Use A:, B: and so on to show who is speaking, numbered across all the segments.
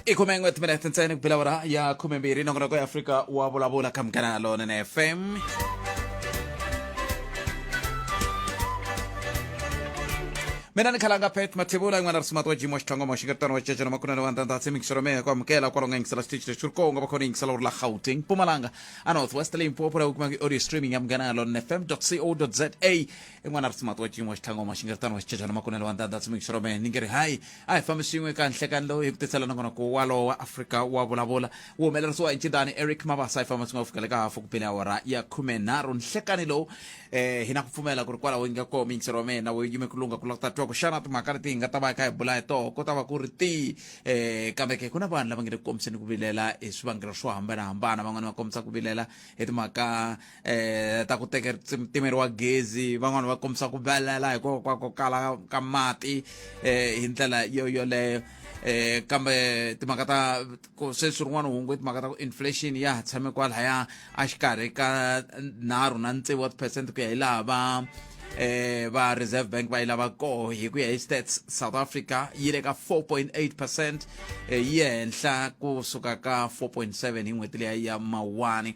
A: ikhume n'we timinete ntsena ku bela wara ya khume mbirhi nongonoko ya afrika wa vulavula ka mugana na lona na fm mina ni khalanga pet mathivula yin'wana risumati wa jimo wa xitlhangomo xi nga tano wa cecana makunene wa ndhandhatsi mikiselo mehe ku amukela kwalonga yingisela xitichi lexi ri konga vakhona yingisela uri la gauteng mpumalanga a north west limpopo laha u kumaka i-audio streaming ya munghana ya lona fm co za i n'wana ri tsimati wa cinyi wa xitlhanga wa maxingeritano wa xicecana makunelo wa ndanda tsimikisiro mene ni nge ri hayi a hi fambi swin'we ka nhlekani lowu hi ku tisela na kona ku walowo wa afrika wa vulavula wu humelerisiwa hi ncindani eric mabasa hi famba swin'we ku fika le ka hafu ku bile awara ya khume nharhu nhlekani lowu eh hi na ku pfumela ku ri kwalaho yi nga koma yingisero wa mina wu yime ku lungha ku lava ku ta twa ku xana timhaka leti hi nga ta va hi kha hi bula hi toho ko ta va ku ri tihi um kambe ke ku na vanhu lava nge le ku kombiseni ku vilela hi swivangelo swo hambanahambana van'wani va kombisa ku vilela hi timhaka eh ta ku teke timeriwa gezi van'wani va kombisa ku vilela hikoho kwa ku kala ka mati eh hi ndlela yo yoleyo eh kambe timhaka ta ku sweswi rin'wana hungu i timhaka ta ku inflation ya ha tshame kwalaya a xikarhi ka nharhu na ntsevu wa tiphesente ku ya hi laha va eh va reserve bank va yi lava koho hi ku ya hi stats south africa yi le ka 4.8 percent eh, yi henhla ku suka ka 4.7 hi n'hweti leya ya mawani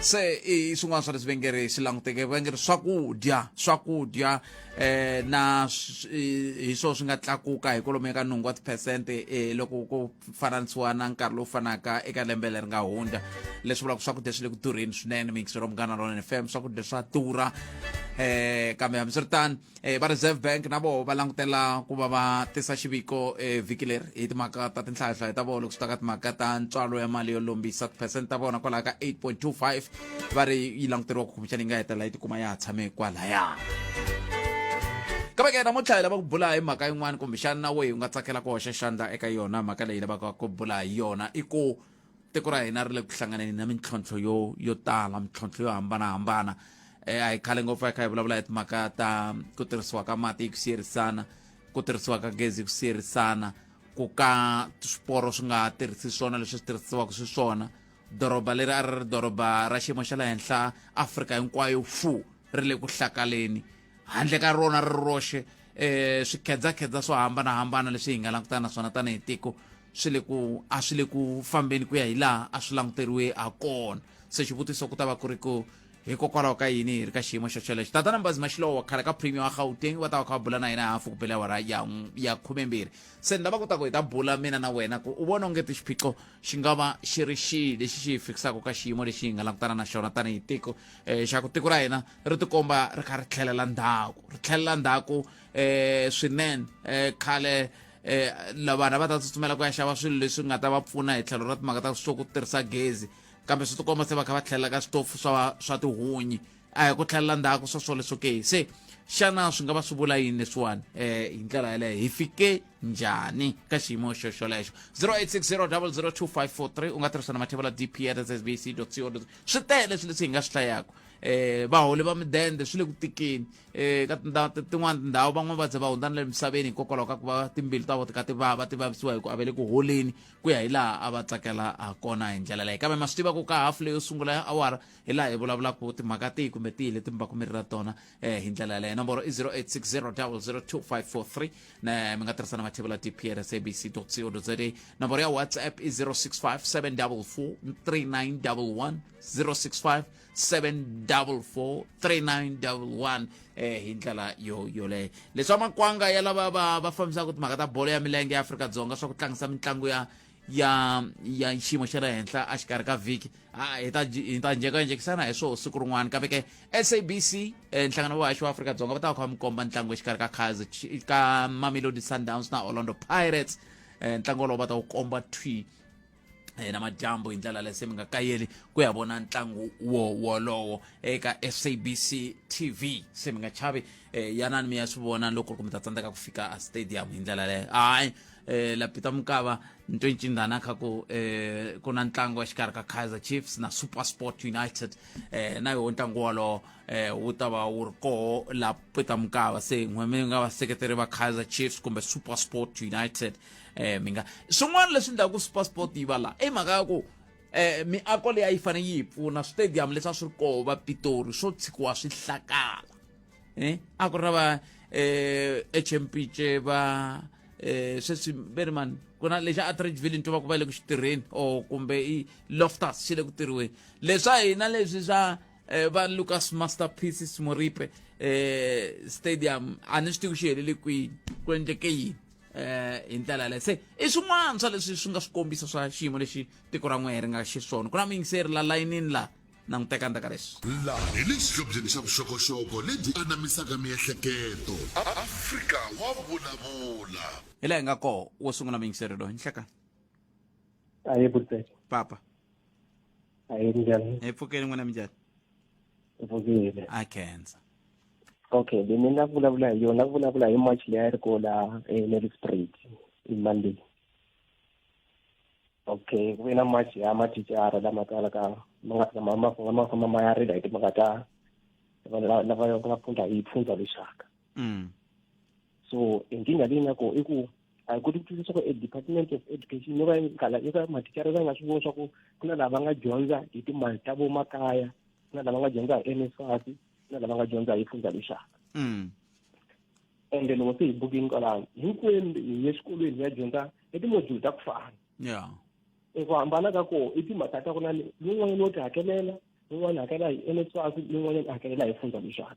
A: se i swin'wana swa leswi va nge ri swi languteke va nge ri swakudya swakudya eh na hi swo swi nga tlakuka hi kolomo eka nhungu wa tiphesente eh, loko ku fananisiwa na nkarhi lowu fanaka eka lembe leri nga hundza leswi vulaka swakudya swi le ku durheni swinene mingisero munghana lona fm swakudya swa durha eh kambe hambiswiritano e va reserve bank na voho va langutela ku va va tisa xiviko evhiki leri hi timhaka ta tinhlayahlayo ta voho loko swi ta ka timhaka ta ntswalo ya mali yo lombisa tiphesente ta vona kwalaho ka 8.25 va ri yi languteriwa ku khumixana yi nga hetelela yi tikuma ya ha tshame kwalaya kambe ke namuntlha hi lava ku bula hi mhaka yin'wana kumbexana na weyi u nga tsakela ku hoxa xandla eka yona mhaka leyi lavaka ku bula hi yona i ku tiko ra hina ri le ku hlanganeni na mintlhontlho yo yo tala mintlhontlho yo hambanahambana um a hi khale ngopfu a hi kha hi vulavula hi timhaka ta ku tirhisiwa ka mati hi ku siyerisana ku tirhisiwa ka gezi hi ku siyerisana ku ka swiporo swi nga tirhisi swona leswi swi tirhisiwaka xiswona doroba leri a ri ri doroba ra xiyimo xa le henhla afrika hinkwayo fu ri le ku hlakaleni handle ka rona ri roxe um swikhedzakhedza swo hambanahambana leswi hi nga langutana na swona tanihi tiko swi le ku a swi le ku fambeni ku ya hi laha a swi languteriwe ha kona se xivutiso ku ta va ku ri ku hikokwalaho ka yini hi ri ka xiyimo xo xolexo tatana mbazi maxilowa khale ka premium wa gauteng va ta va kha va bula na yena hafu ku bela wara ya ya khumembirhi se ni lava ku ta ku hi ta bula mina na wena ku u vona ongeti xiphiqo xi nga va xi ri xihi lexi xi hi fikisaka ka xiyimo lexi hi nga langutana na xona tanihi tiko um eh, xa ku tiko ra hina ri tikomba ri kha ri tlhelela ndhaku ri tlhelela ndhaku um swinene um khale um vanhu va ta tsutsumela ku ya xava swilo leswi nga ta va pfuna hi tlhelo ra timhaka ta swo ku tirhisa gezi kambe swi tikomba se va kha va tlhelela ka switofu swa swa tihunyi a hi ku tlhelela ndzhaku swa swole swo ke se xana swi nga va swi vula yini leswiwani um hi ndlela yeleyo hi fike njhani ka xiyimo xo xolexo 0860002543 u nga tirhisa na mathevela dp at sbc co swi tele leswi leswi hi nga swi hlayaka um vaholi va midende swi le ku tikeni eh ka tindhawu tin'wana tindhawu van'wana va ze va hundzana le misaveni hikokwalaho ka ku va timbilu ta vo tika ti vava ti vavisiwa hi ku avele ku holeni ku ya hi laha a va tsakela ha kona hi ndlela leyi kambe ma swi tiva ku ka hafu leyo sungula ya awara hi laha hi vulavulaka timhaka tihi kumbe tihi leti mi va ku mi ri ra tona um hi ndlela yaleyo nomboro i 0860 ne mi nga tirhisa na mathevula dpr sabc co za nomboro ya whatsapp i 065 744 3911 065 7443911 eh hi ndlela yo yoleyo leswi va makwanga ya lava va va fambisaka timhaka ta bolo ya milenge ya afrika-dzonga swa ku tlangisa mitlangu ya ya ya xiyimo xa le henhla a xikarhi ka vhiki a hi ta hi ta njhekanjhekisana hi swona siku rin'wana kambe ke sabc eh, nhlangano wa vahaxi wa afrika-dzonga va ta va kha va mi komba ntlangu exikarhi ka kaizer ka mamelodi sundowns na orlando pirates eh, ntlangu wolowo va ta wu komba twi eh, namadyambu hi ndlela lese mi nga kayeli ku ya vona ntlangu wo wolowo eka sabc tv se mi nga chavi eh, yanani mi ya swi vona loko ku mi ta tsandzeka ku fika a stadium hi ndlela leyo hayi eh, lapita mukava nto ncindana kha ku eh, ku na ntlangu exikarhi ka kaizer chiefs na super sport united eh, na yoho ntlangu wolowo eh, wu ta va wu ri koho lapita mukava se n'we mi nga vaseketeri va kaizer chiefs kumbe super sport united eh mi nga swin'wana leswi endlaku supersport yi va la i mhaka ya ku eh miako leyi a yi fanele yi hi pfuna switediyamu leswi a swi ri koho va pitori swo tshikiwa swi hlakala eh a ku ri na va eh hmpj va eh sweswi ve ri mani ku na lexi atridge ville nto va ku va le ku xi tirheni or kumbe i loftus xi le ku tirhiweni leswa hina leswi swa eh, va lucas masterpieces moripe eh stadium a ni swi tivi ku xi helele kwini ku endleke yini eh hi ndlela yaleyo se i swin'wana swa leswi swi nga swi kombisa swa xiyimo lexi tiko ra n'wehe ri nga xiswona ku na muyingiseri la layinini la languteka ndzaka leswi laha hi le xihlobyeni
B: xa vuxokoxoko lebyi anamisaka miehleketo afrika wa vulavula hi laha hi nga
A: koho wo sungula muyingiseri loyi nhlekani
C: a hi papa a
D: hi
C: njhani hi pfukeni n'wina minjhani vukile a khensa
A: okay
C: then ni nga vulavula hi yona ku vulavula hi march leyi a ri ko la nelly sprit hi monday okay ku ve na march ya mathicara lama kalaka ma nga tshama ma famba ma famba ma ya rila hi timhaka ta lava va nga phundza hi phundza lexaka mm. so nkingha leyi nga kona i ku a hi koti ku twisisa ku edepartment of education yo va yi kala yo ka mathicara va nga swi vona swa ku ku na lava nga dyondza hi timali ta vomakaya ku na lava nga dyondza hi nsfas ku na lava nga dyondza hi fundza lexaka mm. ende loko se hi bukini kwalano hinkwenu hi ye xikolweni hi ya dyondza hi timodule ta ku fana yeah
A: eku hambana
C: ka koho i timhaka ta ku na lowun'wanyana wo ti hakelela lowun'wana hakela hi nsfas lowun'wanyana hakelela hi fundza lexaka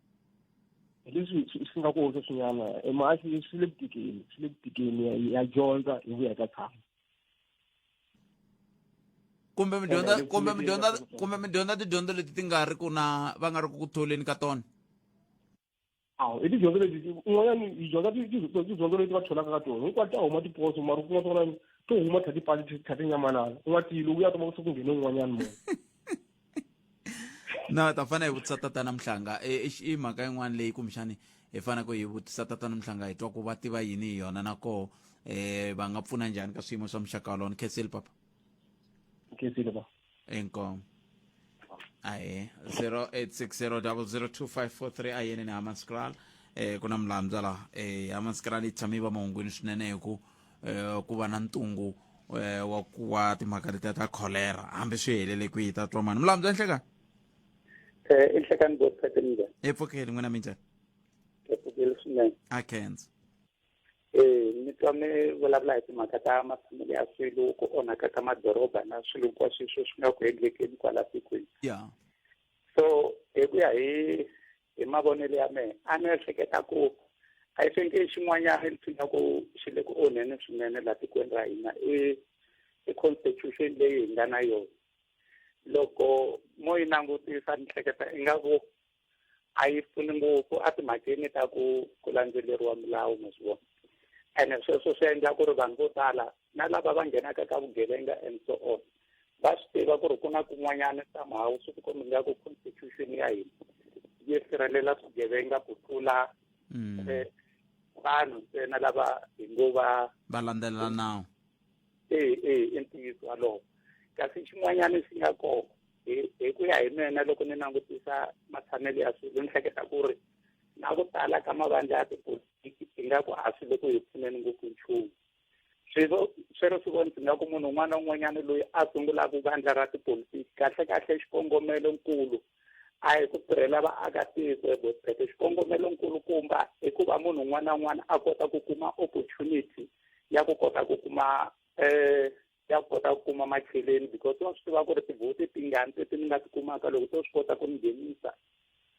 C: hi leswi swi swi nga kona sweswinyana e maasi swi le ku tikeni swi le ku tikeni ya- ya dyondza hi vuya ka tshama
A: kumbe mi dyondza Ene, kumbe mi leti- dyondza leti- kumbe mi dyondza tidyondzo leti ti nga ri ku na va nga ri ku ku tholeni ka tona
C: awu i tidyondzo leti un'wanyani hi dyondza ti- ti- ti- tidyondzo leti va tholaka ka tona hinkwato ta huma tiposo mara kun'wa swin'wanyani to huma thati pali thati nyamanana u nga tiyi loko u ya toma ku se ku nghene un'wanyani munhu
A: na ta fanele hi vutisa tatana mhlanga e, e, i mhaka yin'wana leyi kumbexani hi faneleke hi vutisa tatana mhlanga hi twa ku va tiva yini hi yona na koho um va nga pfuna njhani ka swiyimo swa muxaka wolowo ni khensile papa
C: khensile papa inkomo
A: aye 0860002543 ayeni ni hamaskral um eh, ku na mulambya laha um eh, hamaskral yi tshame yi va mahungwini swinene hi ku eh, ku va na ntungu eh, wa ku wa timhaka letiya ta cholera hambi swi helele kwihi ta twa mani mulamu bya nhlekani eh,
D: i nhlekani byo tsaka njhani epfukeli n'wina mi
A: njhani epfukeli
D: swinene a kenza
A: eh
D: ni twa mi vulavula hi timhaka ta matshamelo ya swilo ku onhaka ka madoroba na swilo hinkwaswo swi swi nga ku endlekeni kwala tikweni ya
A: so
D: hi ku ya hi hi mavonelo ya mehe a ni ehleketa ku a yi fenke xin'wanyana ni tsina ku xi le ku onheni swinene laha tikweni ra hina i i constitution leyi hi nga na yona loko mo yi langutisa ni hleketa ingaku a yi pfuni ngopfu a timhakeni ta ku ku landzeleriwa milawu ma swi vona ene sweswo swi endla ku ri vanhu vo tala na lava va nghenaka ka vugevenga and so on va swi tiva ku ri ku na kun'wanyana somehow swi ti kombe nga ku constitution ya hina yi sirhelela swigevenga ku tlula mm. eh, vanhu ntsena lava hi ngo va va landzelela nawu
A: ee
D: ee i ntiyiso walowo kasi xin'wanyana xi nga kona hi ku ya hi mina loko ni langutisa matshamelo ya swilo ni hleketa ku ri na ku tala ka mavandla ya tipolitiki ingaku a swi le ku hi pfuneni ngopfu nchumu sweswo swero swi vonisa nga ku munhu un'wana na un'wanyana loyi a sungulaka vandla ra tipolitiki kahlekahle xikongomelo nkulu a hi ku tirhela vaakatiko ebosete xikongomelo nkulukumba i ku va munhu un'wana na un'wana a kota ku kuma opportunity ya ku kota ku kuma um ya kota ku kuma macheleni because wa swi tiva ku ri tivhoti tingani teti ni nga ti kumaka loko to swi kota ku ni nghenisa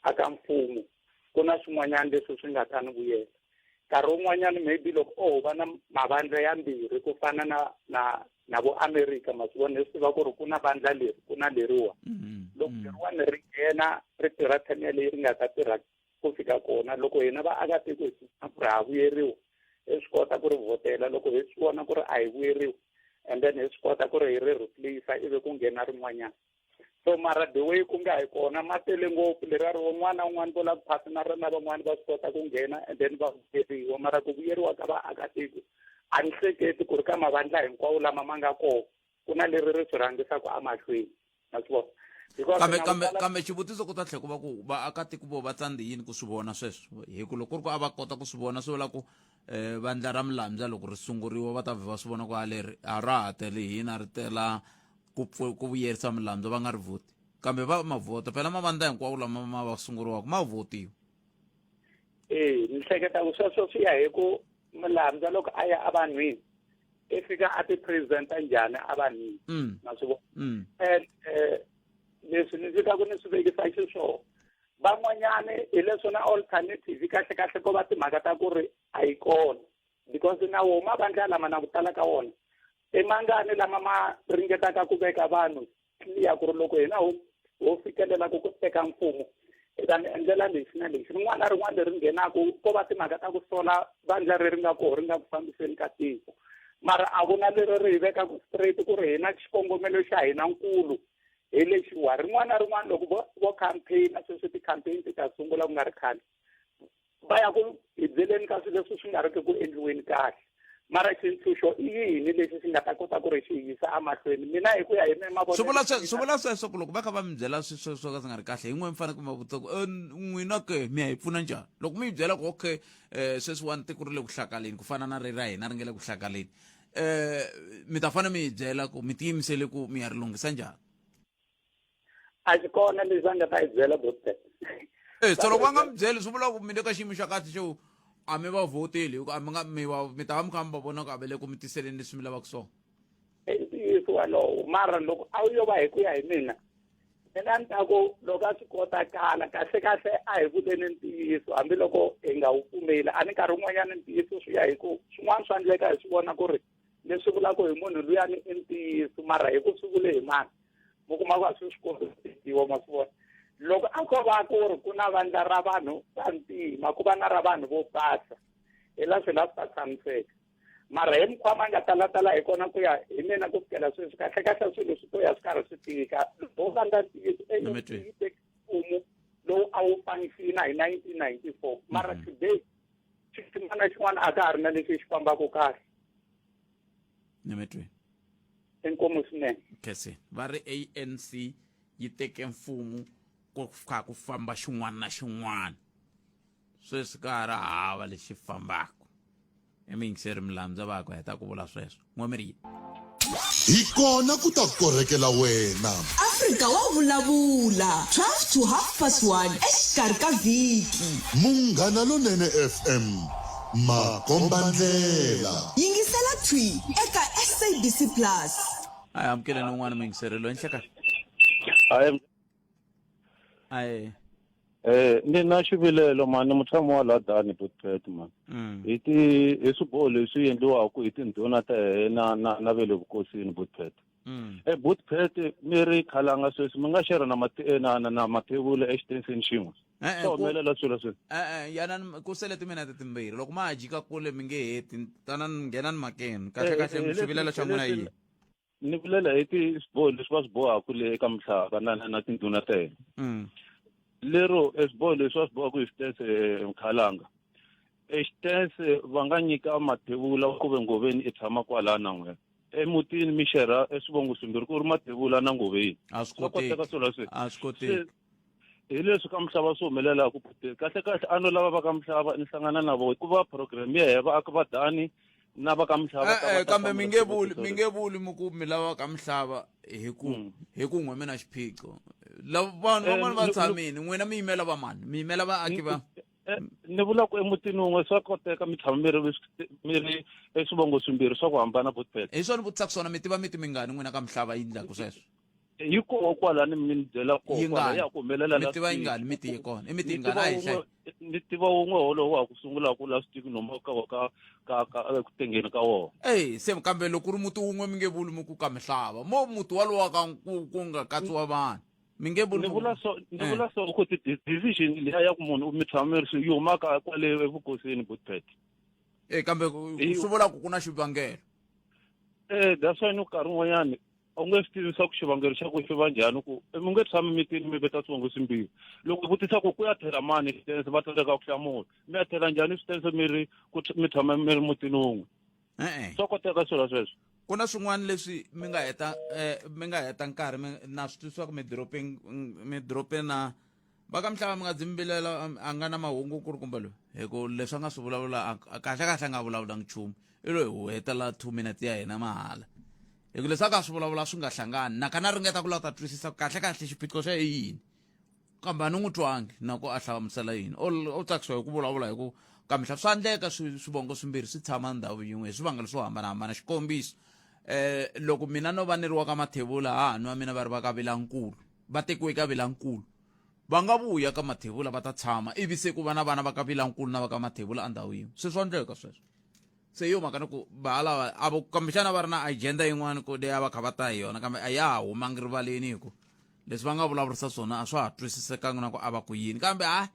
D: a ka mfumo ku na swin'wanyana leswi swi nga ta ni vuyela nkarhi wun'wanyana maybe loko o oh, va na mavandla yambirhi ku fana na na na vo america ma swi vona leswi tiva ku ri ku na vandla leri ku na leriwa mm-hmm. loko mm-hmm. leriwani ri nghena ri tirha time yaleyi ri nga ta tirha ku fika kona loko hina vaakatiko hi swisana ku ri ha vuyeriwa hi swi kota ku ri vhotela loko hi swi vona ku ri a hi vuyeriwa and then hi swi kota ku ri hi ri replace ivi ku nghena rin'wanyana so mara the way ku nga hi kona ma tele ngopfu leriya ri un'wana na un'wana vo lava ku phasa na rona van'wana va swi kota ku nghena and then va vuyeriwa mara ku vuyeriwa ka vaakatiko a ni hleketi ku ri ka mavandla hinkwawo lama ma nga kona ku na leri ri swi rhangisaka amahlweni ma swi vona kambe kambe kambe xivutiso ku
A: ta tlhe ku va ku vaakatiko vo va tsandze yini ku swi vona sweswo hi ku loko ku ri ku a va kota ku swi vona swi vula ku um vandla ra milamdza loko ri sunguriwa va ta vhe va swi vona ku a leri a ra ha tele hina ri tela ku ku vuyerisa milamdza va nga ri vhoti kambe va ma vhota phela mavandla hinkwawo lama ma va sunguriwaka ma vhotiwa
D: ee ni hleketa ku sweswo swi ya hi ku mulambya loko a ya evanhwini i fika a ti-presenta njhani evanhwini mm. na swi vona mm. and um leswi ni fika ku ni swi vekisa xiswona van'wanyani hi leswo na alternative kahle kahle ko va timhaka ta ku ri a yi kona because na wo mavandla lama na ku tala ka wona emangani lama ma ringetaka ku veka vanhu clear ku ri loko hina ho ho fikelela ku ku teka mfumo hi ta mi endlela lexi na lexi rin'wana na rin'wana leri nghenaka ko va timhaka ta ku sola vandla ri ri nga koho ri nga ku fambiseni ka tiko mara a ku na leri ri hi vekaka straight ku ri hina xikongomelo xa hina nkulu hi lexiwa rin'wana na rin'wana loko vo vo campaign-a sweswi ti-campaign ti ta sungula ku nga ri khale va ya ku hibyeleni ka swilo leswi swi nga riki ku endliweni kahle mara xintshunxo i yini lexi xi nga ta kota ku ri xi yisa emahlweni mina hi ku ya hi me mavonelo swi
A: vula sweswo ku loko va kha va mi byela swi swo swo ka swi nga ri kahle hi n'we mi fanele ku ma vutisa ku eh, n'wina ke mi ya hi pfuna njhani loko mi yi byela ku okay um sweswiwani tiko ri le ku hlakaleni ku fana na ri ra hina ri nge le ku hlakaleni um mi ta fanele mi yi byela ku mi tiyimisele ku mi ya ri lunghisa njhani
D: a xi kona lexi a nga ta yi byela bostet e eh, so loko
A: va nga mi byeli swi vula ku mi le ka xiyimo xa kahle xo a mi va vhoteli hikuva a mi nga mi va mi ta va mi kha mi va vona ku a va le ku mi tiseleni leswi mi lavaka swona i ntiyiso
D: walowo mara loko a wu yo va hi ku ya hi mina mina ni ta ku loko a swi kotakala kahle kahle a hi vuleni ntiyiso hambiloko hi nga wu pfumeli a ni nkarhi wun'wanyana ntiyiso swi ya hi ku swin'wana swa ndleka hi swi vona ku ri ni swi vula ku hi munhu luyani i ntiyiso mara hi ku swi vule hi mani mi kuma ku a swi swi kombisiwa ma swi vona loko a ko va ku ri ku na vandla ra vanhu va ntima ku va na ra vanhu vo basa hi la swi la swi ta tshamiseka mara hi mukhwama nga talatala hi kona ku ya hi mina ku fikela sweswi kahle kahle swilo swi to ya swi karhi swi tika loko va nga ntiyiso eyi teki mfumo lowu a wu fanisiwi na hi nineteen ninety four mara mm-hmm. today xin'wana xin'wana a ka ha ri na lexi xi fambaka kahle nemetweni
A: inkomo
D: swinene khese va ri
A: anc yi teke mfumo ku kha ku famba xin'wana na xin'wana sweswi ka ha ri hava lexi fambaka i miyingiseri milandza va ku heta ku vula sweswo N'wamirhi. Hi
B: kona ku ta korhekela wena. Afrika wa
E: vulavula, 12 to half past 1 exikarhi ka vhiki. Munghana
B: Lonene FM, makombandlela. Yingisela thwi
E: eka SABC Plus. Hi amukeleni
A: un'wana muyingiseri loyi enhla ka. aye Eh
F: ni na xivilelo mani ni mutshami wa la dani botqet man mm. hi ti hi swiboho leswi endliwaka hi tindhuna ta hina na na ve le vukosini botqet mm. e botqet mi ri khalanga sweswi mi nga xerha na mati eh, na na mathevula exitenseni xin'we eh, eh, swa humelela swilo sweswi e-e yanani ku
A: sele timinete timbirhi loko ma ha jika kule mi nge heti tanani nghenani makeni kahle kahle xivilelo xa n'wina yini ni vulela
F: hi ti swiboho leswi va swi bohaka le eka muhlava na na na tindhuna ta hina Mm. lero e swiboho leswi va swi bohaka hi xitense eh, mkhalanga e xitense va nga nyika mathevula ku ve ngoveni i tshama kwalaya na n'wina emutini mixera eswivongo swimbirhi ku ri mathevula na ngoveni a swi swa koteka koteki
A: swilo leswi a swi koteki hi
F: leswi ka muhlava swi humelela ku puteni kahle kahle a no lava va ka muhlava ni hlangana na vo hikuva program ya heva a ku va dani na va ka muhlava ka va e-e, ta kambe hlamula mi nge vuli swivutiso mi leswi.
A: nge vuli mi ku mi lava ka muhlava hi ku Mm. hi ku n'we mi na xiphiqo lava vanhu Eh, van'wana va ni- ni- tshamini n'wina mi yimela va mani mi yimela vaaki va Eh, ni vula
F: ku emutini wun'we swa koteka mi tshama mi ri mi ri eswivongo swimbirhi swa ku hambana botpet hi swona vutisa ku swona mi
A: tiva miti mingani n'wina ka muhlava yi ndlaku sweswo yi koho
F: kwala ni mi ni byela koho Yi kwala ngani? ya ku humelela Mi last tiva yi week. ngani? Mi tiye
A: kona. I mi tiye Ni ngani? tiva A hi wun'we- ni tiva wun'we
F: wolowo wa ku sungula ku last week noma ka ka ka ka eku tengeni ka wona eyi se kambe loko
A: ku ri muti wun'we mi nge vuli mi ku ka mihlava mo muti walowo wa ka ku ku nga katsiwa vanhu mi nge vuli ni mi ku- vula so ni Eh. vula so
F: ku ti di- decision liya ya ku munhu mi tshama mi ri swi yi humaka kwale evukosini butpet Eh, kambe
A: ku- Eyi. swi vula ku ku na xivangelo
F: eh that's why ni nkarhi wun'wanyani a wu nge swi tivi swa ku xivangelo xa ku swi va njhani ku mi nge tshami mitini mi veta swivongo swimbirhi loko i vutisa ku ku ya thela mani xitense va tsandzeka ku hlamula mi ya thela njhani xitense mi ri ku mi tshama mi ri mutini wun'we e-e swa koteka swilo sweswo ku na
A: swin'wana leswi mi nga heta um mi nga heta nkarhi mi na swi twisisaka midorobeni midorobeni na va ka mhlava mi nga dzimbilela a nga na mahungu ku ri kumbe loyi hi ku leswi a nga swi vulavula kahle kahle a nga vulavulangi nchumu i loyi hu hetela two minutes ya hina mahala hi ku leswi a ka swi vulavula swi nga hlangani naka na ringeta ku lava ta twisisa kahle kahle xiphiqo xa yini kambe a ni n'wi twangi na ku a hlamusela yini o tsakisiwa hi ku vulavula hi ku kamihla swa endleka swivongo swimbirhi swi tshama ndhawu yin'we hi swivangelo swo hambanahambana xikombiso um loko mina no va ni ri wa ka mathevula ha ha nwa mina va ri va ka vilankulu va tekiwe ka vilankulu va nga vuya ka mathevula va ta tshama ivi se ku va na vana va ka vilankulu na va ka mathevula endhawu yin'we se swa ndleka sweswo se yo mhaka ni ku valava a vo kambexana va ri na agenda yin'wana ku leyi a va kha va ta hi yona kambe a ya ha humangi rivaleni hi ku leswi va nga vulavurisa swona a swa ha twisisekangi na ku a va ku yini kambe hayi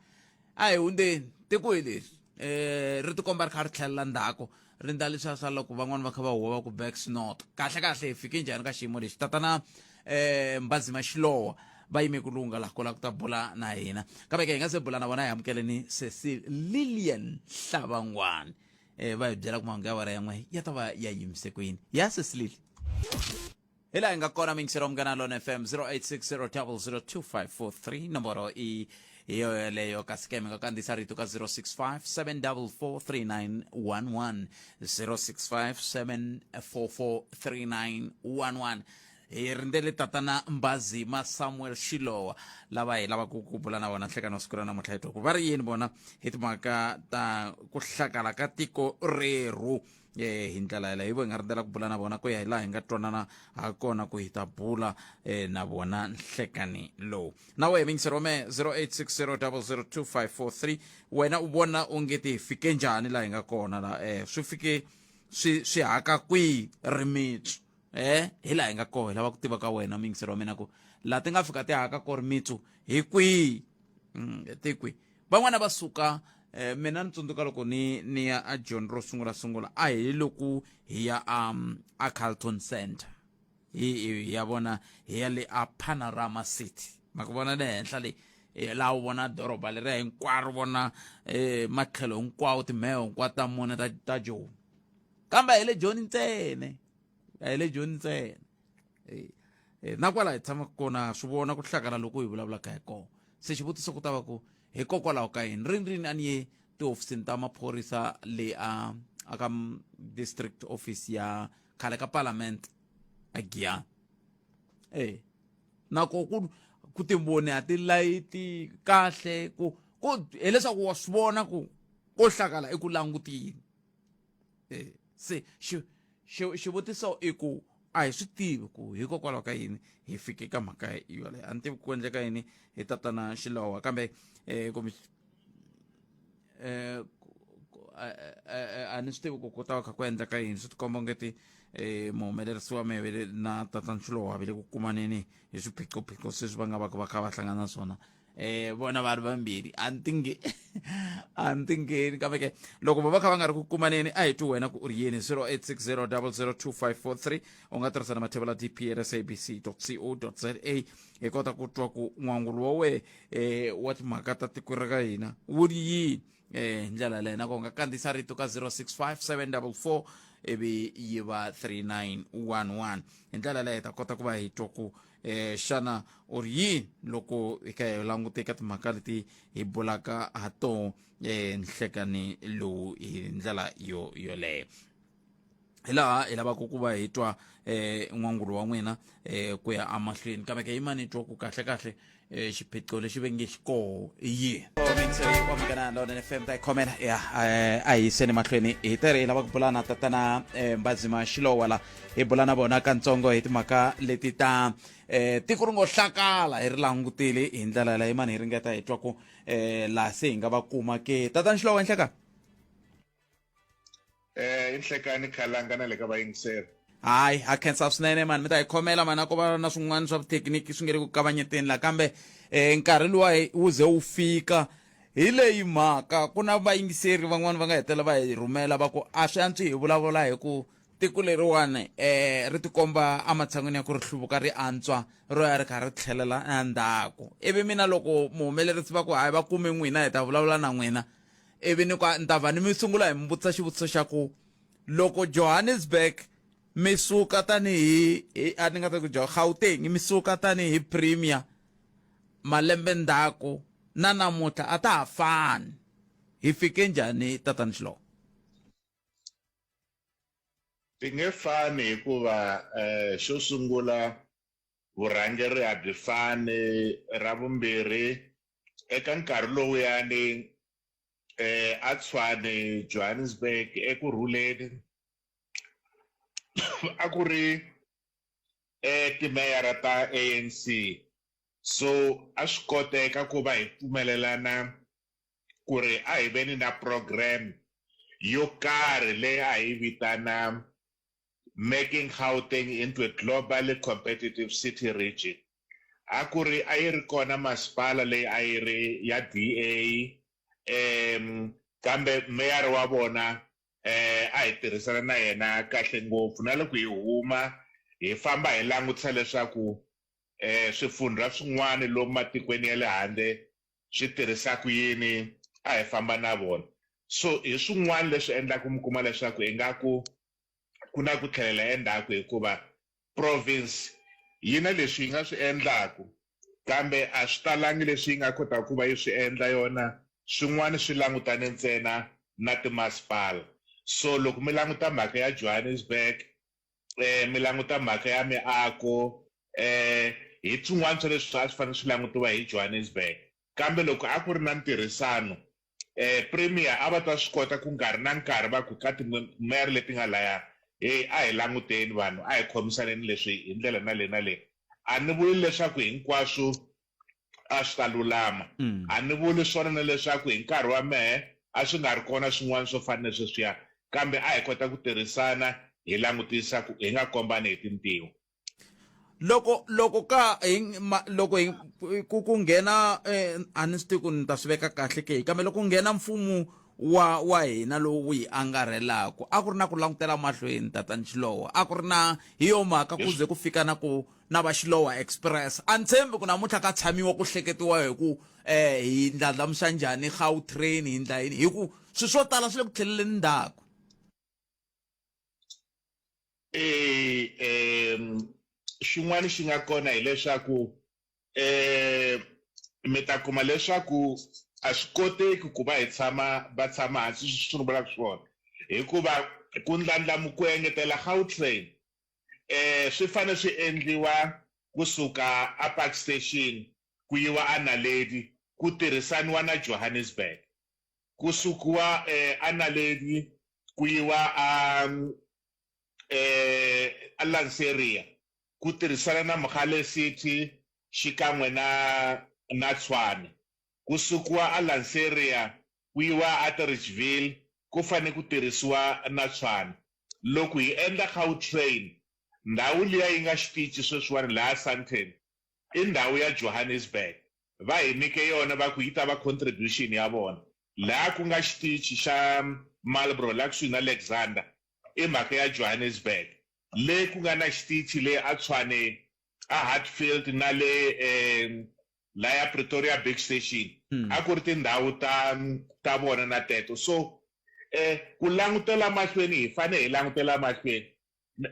A: a hi hundzeni tiko hi leri um ri tikomba ri kha ri tlhelela ndzhaku ri ndla leswiya swa loko van'wani va kha va huwa va ku back snot kahle kahle hi fike njhani ka xiyimo lexi tatana um mbazima xilowa va yime ku lunga laha kola ku ta bula na hina kambe ke hi nga se bula na vona hi amukeleni sesi lilian hlavangwani um va hi byela ku mahungu ya wena yan'we ya ta va ya yimise kwini ya sesilili hila hi nga kona mingisero mungana lone fm 0860002543 nomboro i hi yoyo yeleyo kasi ke mi nga kandziyisa rito ka 065 7443911 065 7443911 hi rindzele tatana mbazima samuel xilowa lava hi lavaka ku bula na vona nhlekani wa siku ra namuntlha hi twa ku va ri yini vona hi timhaka ta ku hlakala ka tiko rerhu e hi ndlela yeleyo hi vo hi nga rindzela ku bula na vona ku ya hi laha hi nga twanana ha kona ku hi ta bula um na vona nhlekani lowu na wehe mingisero me 0860 wena u vona onge ti hi fike njhani laha hi nga kona la um swi fike swi swi haka kwihi rimitsu um hi laha hi nga koho hi lava ku tiva ka wena mingisero wa mina ku laha ti nga fika ti haka ko rimitsu hi kwihi mm, ti kwihi van'wana va suka eh, mina ni tsundzuka loko ni ni ya a john ro sungula sungula a hi loku hi ya um, a carlton center hi, hi, hi ya vona hi ya le a panorama city ma ku vona le henhla leyi eh, laha u vona doroba leriya hinkwaro vona eh, matlhelo hinkwawo timheho hinkwato ta mune ta, ta joni kambe hi le joni ntsene a hi le joni ntsena eh, eh, na kwala hi tshamaka kona swi vona ku hlakala loko hi vulavulaka hi kona se xivutiso ku ta va ku hikokwalaho ka yini rini rini a ni ye tihofisini ta maphorisa le a a ka district office ya khale ka parliament a giyani e eh, nako ku ku timboni a ti layiti kahle ku ku hileswaku wa swi vona ku ko hlakala eku langutini e se xi xi xivutiso i ku a hi swi tivi ku hikokwalaho ka yini hi fike ka mhaka yoleyo a ni tivi ku endleka yini hi tatana xilowa kambe um kumbe um a ni swi tivi ku ku ta va kha ku endleka yini swi tikomba ongeti um muhumelerisi wa mehe vele na tatana xilowa vele ku kumaneni hi swiphiqophiqo sweswi va nga va ka va kha va hlangana na swona eh vona va ri vambirhi a ni tinge a ni tingeni kambe ke loko vo va kha va nga ri ku kumaneni a hi twi wena ku u ri yini 0860002543 u nga tirhisa na mathevela dpn sabc co za hi kota ku twa ku n'wangulo wa wehe eh wa timhaka ta tiko ra ka hina wu ri yini eh ndlela leyi na ko nga kandziyisa rito ka 065744 ivi yi va 3911 hi ndlela leyi hi ta kota ku va hi twa ku eh, xana u ri yini loko hi ka hi langute eka timhaka leti hi bulaka ha tona eh, nhlekani lowu hi ndlela yo yoleyo hi laha hi lavaka ku va hi twa eh n'wangulo wa n'wina eh ku ya amahlweni kambe ke yimani twa ku kahle kahle eh xiphiqo lexi ve nge xi koho i yini omingana lona fm ta khomela ya eh, a hi yiseni mahlweni hi tere hi lava ku bulana tatana eh, mbazima xilowa la hi bula na vona kantsongo hi timhaka leti ta eh tiko ri ngo hlakala hi ri langutile hi ndlela leyi mani hi ringeta hi twa ku eh la se hi nga va kuma ke tata nxilo wa nhleka
B: eh inhlekani khalanga na le ka vayingiseri hayi ha khensa
A: swinene mani mi ta hi khomela mani a ko va na swin'wana swa vuthekiniki swi nge ri ku kavanyeteni la kambe um nkarhi luwa wu ze wu fika hi leyi mhaka ku na vayingiseri van'wani va nga hetelela va hi rhumela va ku a swi antswi hi vulavula hi ku Tiko leriwani um ri tikomba ematshan'wini ya ku ri hluvuka ri antswa ro ya ri kha ri tlhelela endzhaku ivi mina loko muhumelerisi va ku hayi va kume n'wina hi ta vulavula na n'wina ivi ni ku ni ta va ni mi sungula hi mi vutisa xivutiso xa ku loko johannesburg mi suka tanihi a ni nga ta ku jo gauteng mi suka tanihi premier malembe ndzhaku na namuntlha a ta ha fani hi fike njhani tatani xiloko
G: Ti nge fani hikuva xo sungula vurhangeri a byi fani, ra vumbirhi eka nkarhi lowuyani a Tshwane Johannesburg eku rhuleni a ku ri timeyara ta A_N_C so a swi koteka ku va hi pfumelelana ku ri a hi veni na program yo karhi leyi a hi yi vitana Making Gauteng into a Globally Competitive City Region. A ku ri a yi ri kona masipala leyi a yi ri ya DA kambe meyara wa vona a hi tirhisana na yena kahle ngopfu na loko hi huma hi famba hi langutisa leswaku swifundzha swin'wana lomu matikweni ya le handle swi tirhisa ku yini a hi famba na vona so hi swin'wana leswi endlaku mi kuma leswaku ingaku ku na ku tlhelela endzhaku hikuva province yi na leswi yi nga swi endlaku kambe a swi talangi leswi yi nga kotaka ku va yi swi endla yona swin'wana swi langutane ntsena na timasipala so loko mi languta mhaka ya johannesburg um mi languta mhaka ya miako um hi swin'wana swa leswi a swi fanele swi langutiwa hi Johannesburg kambe loko a ku ri na ntirhisano um premier a va ta swi kota ku nkarhi na nkarhi va ku ka timere leti nga laya heyi a hi languteni vanhu a hi khomisaneni leswi hi ndlela na le na le a ni vuli leswaku hinkwaswo a swi ta lulama. A ni vuli swona na leswaku hi nkarhi wa mehe a swi nga ri kona swin'wana swo fana ni sweswiya, kambe a hi kota ku tirhisana hi langutisa ku hi nga kombani hi tintiho. Loko
A: loko ka hi ma, loko hi ku ku nghena eh, a ni swi tivi ku ni ta swi veka kahle ke kambe loko nghena mfumo wa wa hina lowu wu hi angarhelaka a ku ri na ku langutela mahlweni tatani Xilowo a ku ri na hi yo mhaka ku ze ku fika na ku na va Xilowa Express. A ni tshembi ku namuntlha ka tshamiwa ku hleketiwa hi ku hi ndlandlamuxa njhani Gautrain, hi endla yini hi ku swilo swo tala swi le ku tlheleleni ndzhaku.
G: Xin'wana xi nga kona hileswaku mi ta kuma leswaku a swi koteki ku va hi tshama va tshama hansi sweswi ni vulaka swona hikuva ku ndlandlamuka ku engetela Gautrain eh, swi fane swi endliwa kusuka a Park Station ku yiwa a Naledi ku tirhisaniwa na Johannesburg. Ku sukiwa eh, a Naledi ku yiwa a eh, a Lanseria ku tirhisana na Mogale City xikan'we na na Tshwane. Ku sukiwa a Lanseria ku yiwa aTorrigeville ku fane ku tirhisiwa na Tshwane. Loko hi endla Gautrain, ndhawu liya yi nga xitici sweswiwani laha Sandton, i ndhawu ya Johannesburg. Va hi nyike yona va ku yi ta va contribution ya vona. Laha ku nga xitici xa Marlborough laha kusuhi na Alexander, i mhaka ya Johannesburg. Le ku nga na xitici le aTshwane, aHatfield na le laya Pretoria Big Station a ku ri tindhawu ta ta vona na teto so ku langutela mahlweni hi fane hi langutela mahlweni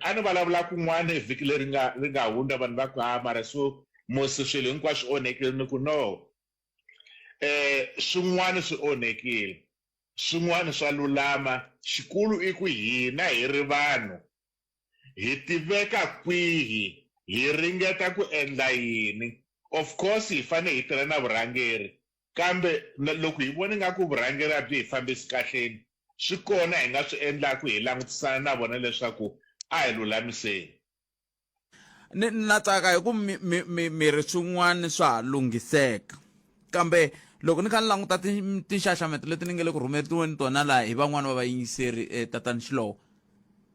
G: a ni vulavula kun'wana hi vhiki leri nga ri nga hundza vanhu va ku ha mara so musi swilo hinkwaswo swi onhekile ni ku no swin'wana swi onhekile swin'wana swa lulama xikulu i ku hina hi ri vanhu hi tiveka kwihi, hi ringeta ku endla yini. Of course hi fanele hi tirha na vurhangeri kambe loko hi vona ingaku vurhangeri a byi hi fambisi kahleni swi kona hi nga swi endlaku hi langutisana na vona leswaku a hi lulamiseni.
A: Ni na tsaka hi ku mi mi mi mi ri swin'wana swa ha lunghiseka kambe loko ni kha ni languta tinxaxameto leti ni nge le ku rhumetiweni tona laha hi van'wani va vayingiseri tatani Xilowo,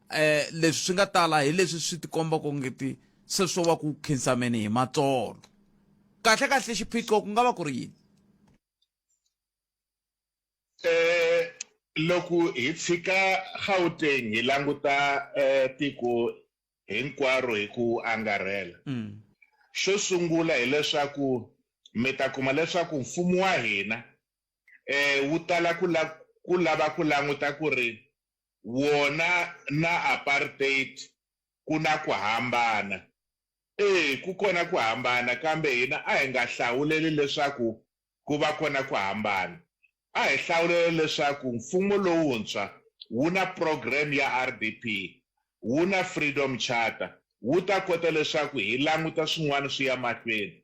A: eh leswi swi nga tala hi leswi swi tikomba ku ngeti se swo va ku khinsameni hi matsolo kahle kahle xiphiqo ku nga va ku ri yini eh
G: loko hi tshika Gauteng hi languta eh tiko hinkwaro hi ku angarhela mm. xo sungula hileswaku mi ta kuma leswaku mfumo wa hina eh wu tala ku la ku lava ku languta ku ri wona na apartheid ku na ku hambana. E, ku kona ku hambana, kambe hina a hi nga hlawuleli leswaku ku va kona ku hambana. A hi hlawulela leswaku mfumo lowuntshwa wu na program ya RDP, wu na Freedom Charter, wu ta kota leswaku hi languta swin'wana swi ya mahlweni.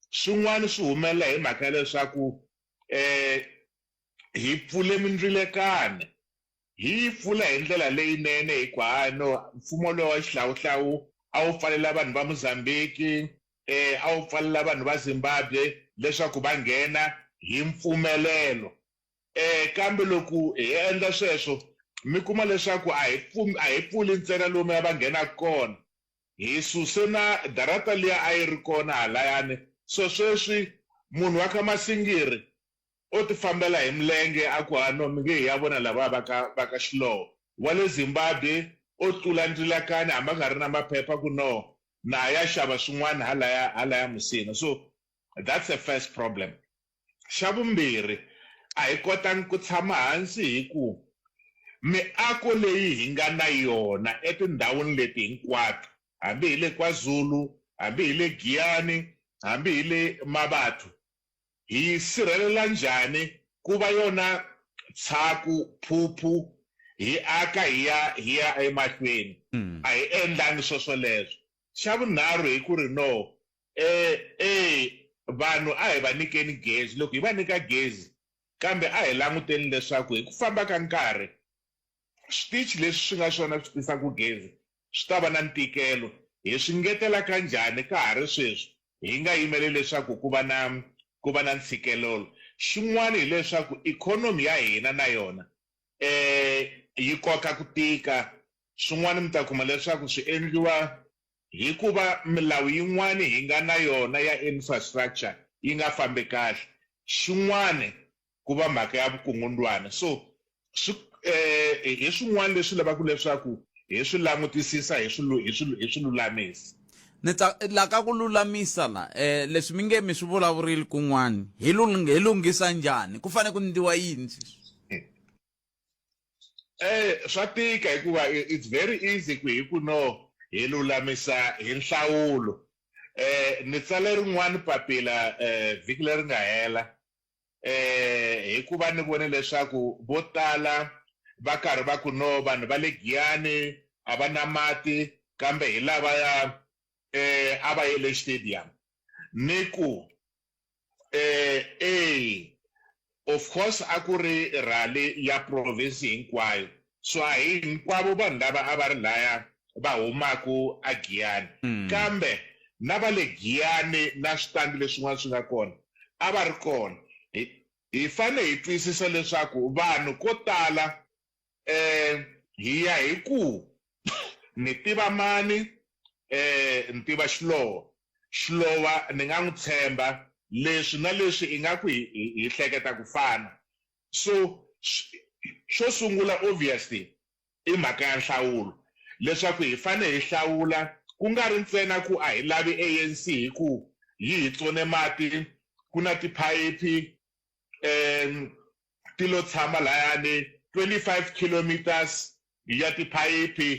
G: Swin'wana swi humelela hi mhaka ya leswaku e, hi pfule mindzilekana hi yi pfula hi ndlela leyinene hikwano mfumo lowa xihlawuhlawu a wu pfalela vanhu va Mozambique eh a wu pfalela vanhu va Zimbabwe leswaku va nghena hi mpfumelelo eh kambe loko hi endla sweswo mi kuma leswaku a hi pfumi a hi pfuli ntsena lomu ya va nghena kona hi suse na darata liya a yi ri kona halayani so sweswi munhu wa ka Masingiri o tifambela hi milenge a ku ha no mi nge hi ya vona lavaya va ka va ka Xilowo. Wa le Zimbabwe o tlula ndlilakani hambi a nga ri na maphepha ku no na a ya xava swin'wana halaya halaya musina. So that's a first problem. Xa vumbirhi a hi kotangi ku tshama hansi hi ku miako leyi hi nga na yona etindhawini leti hinkwato hambi hi le KwaZulu, hambi hi le Giyani, hambi hi le Mabatho Hi yi sirhelela njhani ku va yona tshaku, phuphu, hi aka hi ya hi ya emahlweni? A hi endlangi swoswoleswo. Xa vunharhu hi ku ri no, e, e, vanhu a hi va nyikeni gezi. Loko hi va nyika gezi, kambe a hi languteni leswaku hi ku famba ka nkarhi switichi leswi swi nga swona swi tisaka gezi swi ta va na ntikelo. Hi swi ngetelaka njhani ka ha ri sweswi hi nga yimeli leswaku ku va na ku va na ntshikelelo? Xin'wana hi leswaku ikhonomi ya hina na yona yi koka ku tika. Swin'wana mi ta kuma leswaku swi endliwa hi ku va milawu yin'wana hi nga na yona ya infrastructure yi nga fambi kahle. Xin'wana ku va mhaka ya vukungundwana so swi eh, hi swin'wana leswi lavaka leswaku hi swi langutisisa hi swi lulamisa ni
A: la ka ku lulamisa la eh leswi mi nge mi swi vulavurile kun'wana hi hi lunghisa njhani ku fanele ku ndiwa yini
G: eh swa tika hikuva it's very easy ku hi ku no hi lulamisa hi nhlawulo eh ni tsale rin'wana papila eh vhiki leri nga hela eh hikuva ni vone leswaku vo tala va karhi va ku no vanhu va le Giyani a va na mati kambe hi lava ya eh a va ye le stadium ni ku eh eh of course a ku ri rally ya province hinkwayo So a hi hinkwavo vanhu lava a va ri laya va humaka eGiyani, kambe na va le Giyani na switandi leswin'wana swi nga kona a va ri kona. Hi, hi fanele hi twisisa leswaku vanhu ko tala, um, hi ya hi ku, Ni tiva mani? Um, ni tiva Xilowa. Xilowa ni nga n'wi tshemba, leswi na leswi ingaku hi, hi, hi hleketa ku fana. So xo sungula obviously i mhaka ya nhlawulo leswaku hi fane hi hlawula ku nga ri ntsena ku a hi lavi ANC hi ku yi hi tsone mati ku na tiphayiphi ti lo tshama layani 25 kilometres ya tiphayiphi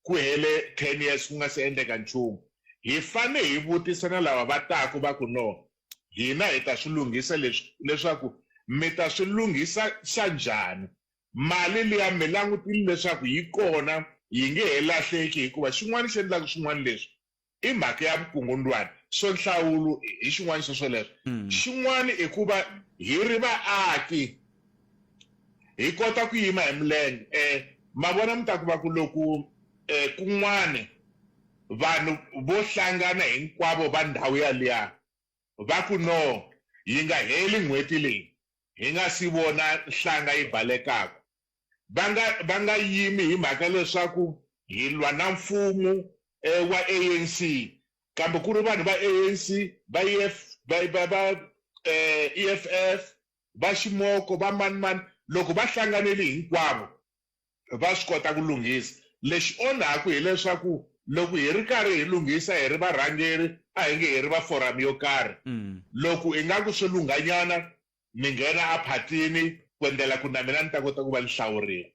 G: ku hele 10 years ku nga si endleka nchumu. Hi fanele hi vutisa na lava va taka va ku, No, hina hi ta swi lunghisa leswi, leswaku mi ta swi lunghisa xa njhani? Mali liya mi langutile leswaku yi kona, yi nge he lahleki hikuva xin'wana xi endlaka swin'wana leswi i mhaka ya vukungundwani so nhlawulo hi xin'wana xa swoleswo mm. xin'wana i ku va hi ri vaaki hi kota ku yima hi milenge um ma vona mi ta ku va ku loku um kun'wana vanhu vo hlangana hinkwavo va ndhawu yaliya va ku no yi nga heli n'hweti leyi hi nga si vona nhlanga yi balekaka va nga va nga yimi hi mhaka leswaku hi lwa na mfumo wa ANC kambe ku ri vanhu va ANC va EF va va va EFF va ximoko va mani mani loko va hlanganile hinkwavo va swi kota ku lunghisa lexi onhaku hileswaku loko hi ri karhi hi lunghisa hi ri varhangeri a hi nge hi ri va forum yo karhi loko ingaku swi lunghanyana Ni nghena a phatini ku endlela ku na mina ni ta kota ku va ni hlawurile.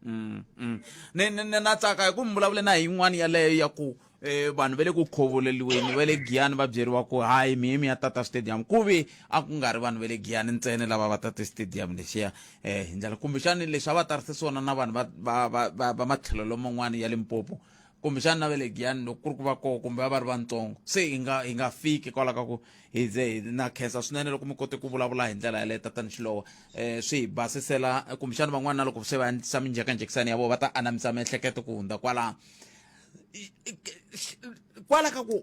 G: Mm-mm.
A: Ni, ni, ni na tsaka hi ku mi vulavule na hi yin'wana yaleyo ya ku eh, vanhu va le ku khovuleliweni va le giyani va byeriwa ku hayi mihe mi ya tata stadium ku ve a ku nga ri vanhu va le giyani ntsena lava va tate stadium lexiya eh, hi ndlela kumbexani leswi a va tarise swona na vanhu va, va, va, va, va matlhelo loman'wana ya limpopo kumbexana na va le giyani loko ku ri ku va koho kumbe va va ri vantsongo se hi nga hi nga fiki kwala ka ku hi ze hi na khensa swinene loko mi kote ku vulavula hi ndlela yaleyo tatani xilowa um eh, swi hi basisela kumbexana van'wana na loko se va endlisa minjekanjekisani ya vona va ta anamisa miehleketo ku hundza kwalaho kwala ka ku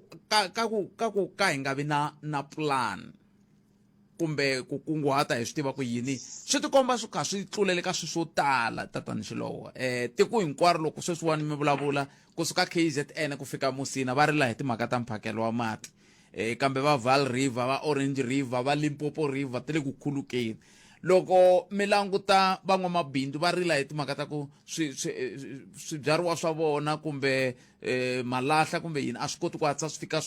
A: ka ku ka ku ka hi nga vi na na plan kumbe ku kunguhata hi swi tiva ku yini swi tikomba swi kha swi tlulele ka swi swo tala tatani xilowo um eh, tiko hinkwaro loko sweswiwani mi vulavula kusuka k z n ku fika musina va rila hi timhaka ta mphakelo wa mati um kambe va val river va orange river va limpopo river ti le ku khulukeni loko mi languta van'wamabindzu va rila hi timhaka ta ku swibyariwa swa vona kumbe um malahla kumbe yini a swi koti ku hatlisa swi fika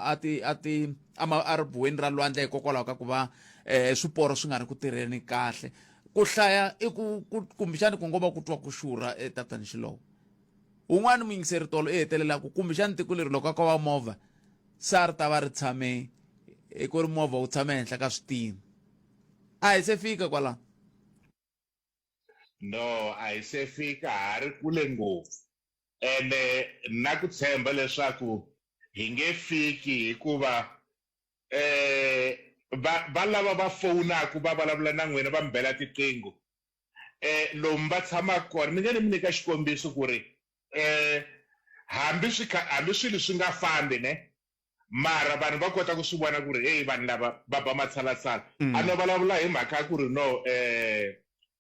A: a ti a ti a ma a ri buweni ra lwandle hikokwalaho ka ku va um swiporo swi nga ri ku tirheni kahle ku hlaya i ku kumbexani ku ngo va ku twa ku xurha etatani xilowo un'wana muyingiseri tolo i hetelelaku kumbexani tiko leri loko a ko va movha se a ri ta va ri tshame i ku ri movha wu tshame henhla ka switini a hi se fika kwalaho
G: No, a hi se fika, ha ri kule ngopfu. Ene na ku tshemba leswaku hi nge fiki hikuva um va va lava va fowunaku va vulavula na n'wina va mi bela tiqingho um lomu va tshamaka kona ni nge ni mi nyika xikombiso ku ri um hambi swi kha hambi swilo swi nga fambi ne mara vanhu va kota ku swi vona ku ri heyi vanhu lava va ba matshalatshala mm. a no vulavula hi mhaka ya ku ri no um eh,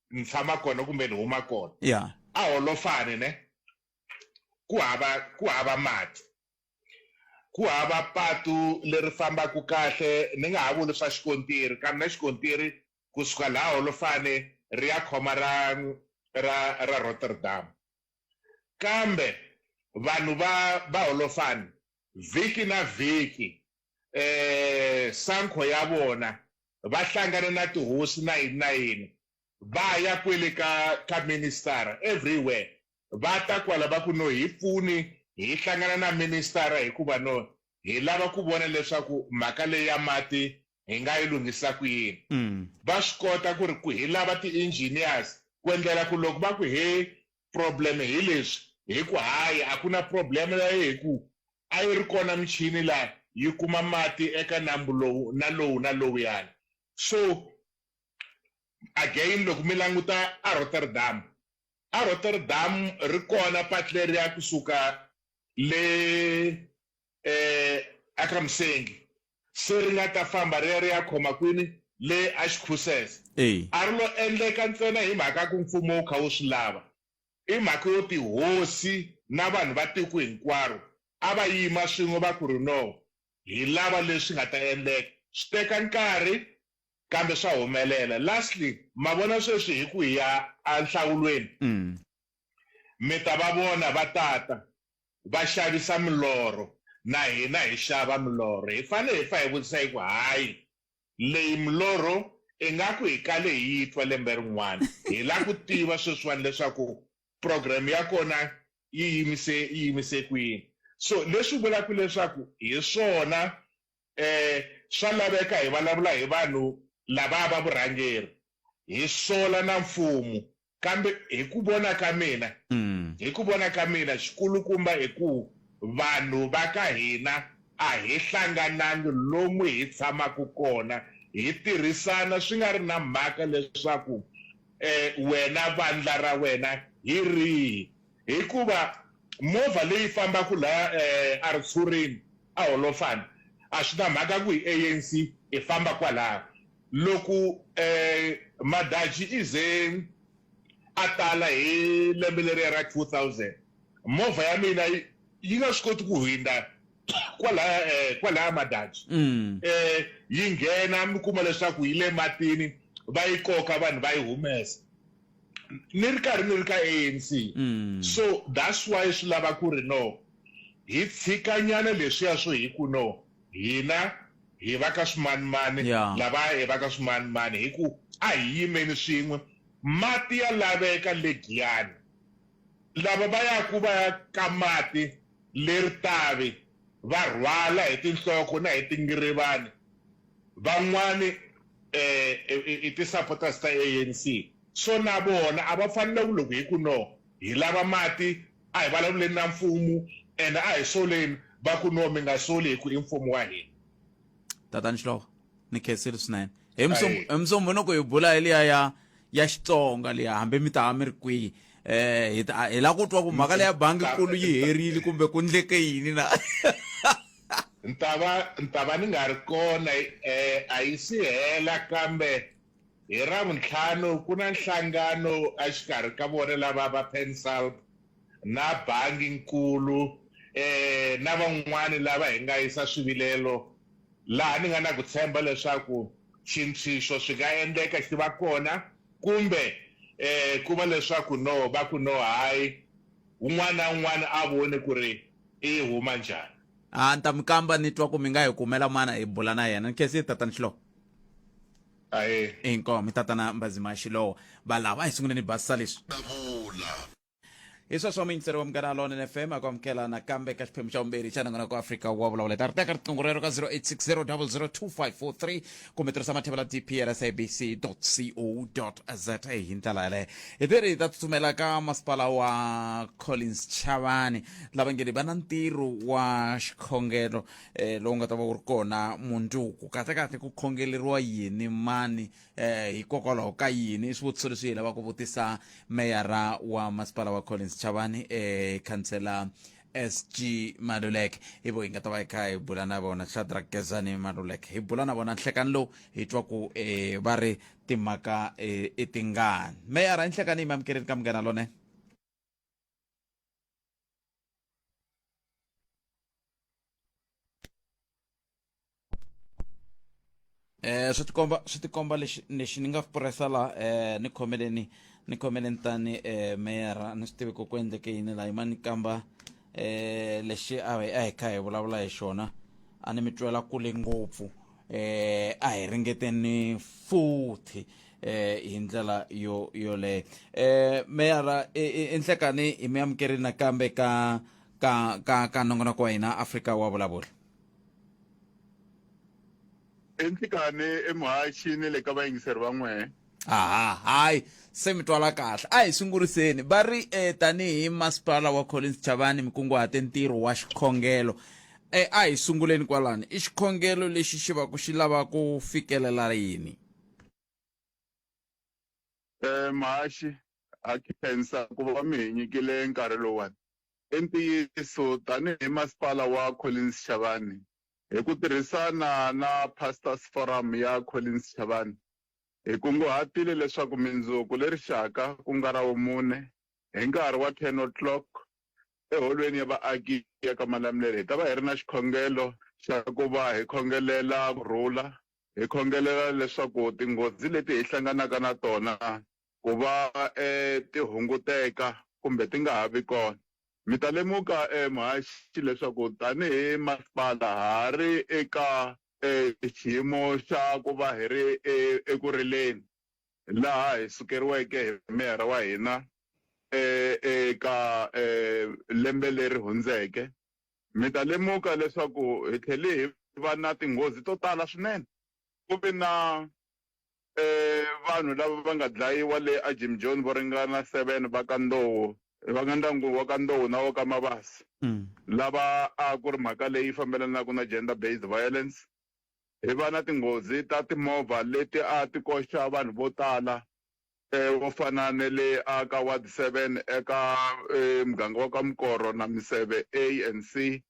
G: ni tshama kona kumbe ni huma kona yeah. a holofane ne ku hava ku hava mati ku hava patu leri fambaka kahle ni nga ha vuli swa xikontiri kambe na xikontiri kusuka laha holofane ri ya khoma ra ra ra rotterdam kambe vanhu va va holofane Vhiki na vhiki, e sankho ya vona, va hlangana na tihosi na yini na yini, va ya kwele ka, ka ministara, everywhere, va ta kwala va ku, No, hi pfuni hi hlangana na ministara hikuva no, hi lava ku vona leswaku mhaka leyi ya mati hi nga yi lunghisa ku yini mm. va swi kota ku ri ku hi lava ti-engineers ku endlela ku loko va ku he problem hi leswi hi ku hayi a ku na problem leyo hi ku a yi ri kona michini laha yi kuma mati eka nambu lowu na lowu na lowuyani so again loko mi languta a rotterdam a rotterdam ri kona pati leriya kusuka le eAkramsengi se ri nga ta famba ri ya ri ya khoma kwini le axikhusese a ri lo endleka ntsena hi mhaka ku mfumo wu kha wu swi lava i mhaka yo tihosi na vanhu va tiko hinkwaro a va yima swin'we va ku ri no hi lava leswi nga ta endleka swi teka nkarhi kambe swa humelela lastly ma vona sweswi hi ku hi ya enhlawulweni mm. Mi ta va vona va ta ta, va xavisa milorho, na hina hi xava milorho. Hi fanele hi fa hi vutisa hi ku, Hayi, leyi milorho ingaku hi kale hi yi twa lembe rin'wana. Hi lava ku tiva sweswiwani leswaku program ya kona yi yimise yi yimise kwini. So leswi vulaka leswaku hi swona swa laveka hi vulavula hi vanhu lavaya va vurhangeri, hi sola na mfumo. Kambe hi ku vona ka mina, hi ku vona ka mina, xikulukumba i ku vanhu va ka hina a hi hlanganangi lomu hi tshamaka kona, hi tirhisana swi nga ri na mhaka leswaku wena vandla ra wena hi rihi. Hikuva movha leyi fambaka laha a ritshurini a holofana a swi na mhaka ku hi ANC hi famba kwalaho loko Madaji i ze a tala hi lembe leriya ra 2000 movha ya mina yi nga swi koti ku hundza kwalaya kwalaya Madaji yi nghena mi kuma leswaku yi le matini va yi koka vanhu va yi humesa ni ri karhi ni ri ka ANC mm. so that's why swi lava ku ri no hi tshikanyana leswiya swo hi ku no hina hi va ka swimanimani lava hi va ka swimanimani hi ku a hi yimeni swin'we mati ya laveka legiyani Lava va yaku va ya ka mati le ritavi va rhwala hi tinhloko na hi tingirivani van'wani i ti supporters ta ANC so na vona a va fanele ku loko hi ku no hi lava mati a hi vulavuleni na mfumu and a hi soleni va ku no mi nga soli hi ku i mfumu wa hina. tatani
A: xihlovo ni khensile swinene hi Ayi. musombhonoko hi bula hi liya ya ya xitsonga liya hambi mi ta mi ri kwihi um hi ta- hi la ku twa ku mhaka leya bangi kulu yi herile kumbe ku ndleke yini na ntava
G: ntava ni nga ri kona eh, a yi si hela kambe hi ravuntlhanu ku na nhlangano exikarhi ka vona lava va pensalb na bangi-nkulu na van'wana lava hi nga yisa swivilelo laha ni nga na ku tshemba leswaku xintshwixo swi nga endleka xi va kona kumbe ku va leswaku no va ku no hayi, un'wana na un'wana a vone ku ri i yi huma njhani. A ni ta mi kamba
A: ni twa ku mi nga hi kumela mana hi bula na yena. Ni khensile Tatana Xilowa. Ahee. Inkomu, Tatana Mbazima Xilowa. Valava a hi sunguleni hi basisa leswi. Davula. hi sweswo muyingiseri wa munghana lonene fm a ku amukela nakambe ka xiphemu xa vumbirhi xa nongonoko wa afrika wa vulavula ta ri teka riqingho rero ka 0860002543 kumbe tirhisa mathevela dpl sabc co za hi ndlela yaleyo hi tiri hi ta tsutsumela ka masipala wa collins chavani lava nge ni va na ntirho wa xikhongelo eh, lowu nga ta va wu ri kona mundzuku kahlekahle ku khongeleriwa yini mani eh hikokwalaho ka yini i swivutiso leswi hi lavaka ku vutisa meyara wa masipala wa collins chavani eh khansela sg maluleke hi vo hi nga ta va hi kha hi bula na vona shadrack gezani maluleke hi bula na vona nhlekani lowu hi twa ku eh va ri timhaka eh, i tingani meyara i nhlekani yi mi amukeleni ka munghana lonene eh swi tikomba swi tikomba lexi lexi ni nga puresa la eh ni khomeleni ni khomeleni tani eh meyara ni swi tivi ku ku endleke yini la yima ni kamba eh lexi a hi a hi kha hi vulavula hi xona a ni mi twela kule ngopfu eh a hi ringeteni futhi eh hi ndlela yo yoleyo eh meyara enhlekani hi mi amukerile nakambe ka ka ka ka nongonoko wa hina afrika wa vulavula
H: enhlekani emuhaxi ni le ka vayingiseri va n'wee aha hayi
A: se mi twala kahle a hi sunguriseni va ri e tanihi masipala wa collins chavani mi kunguhate ntirho wa xikhongelo e a hi sunguleni kwalani i xikhongelo lexi xi va ku xi lava ku fikelela yini
H: Eh mhaxi ha khensa ku va mi hi nyikile nkarhi lowuwani i ntiyiso tanihi masipala wa Collins Chavani hi ku tirhisana na Pastors Forum ya Collins Chavani Hi kunguhatile leswaku mindzuku le rixaka ku nga ra wumune hi nkarhi wa 10 o'clock eHolweni ya Vaaki ya ka Malamulele hi ta va hi ri na xikhongelo xa ku va hi khongelela ku rhula, hi khongelela leswaku tinghozi leti hi hlanganaka na tona ku va ti hunguteka kumbe ti nga ha vi kona. Mi ta lemuka, muhaxi, leswaku tanihi masipala ha ri eka xiyimo xa ku va hi ri eku rileni, laha hi sukeriweke hi meyara wa hina eka lembe leri hundzeke, mi ta lemuka leswaku hi tlhele hi va na tinghozi to tala swinene. Ku ve na e vanhu lava va nga dlayiwa le aJimjoni vo ringana 7 va ka Ndowo, va nga ndyangu wa ka Ndowo na wa ka Mabasa, lava a ku ri mhaka leyi fambelanaka na Gender Based Violence, hi va na tinghozi ta timovha leti a ti koxa vanhu vo tala e vo fana ne le a ka Ward 7 eka e muganga wa ka Mukoro na Miseve A and C.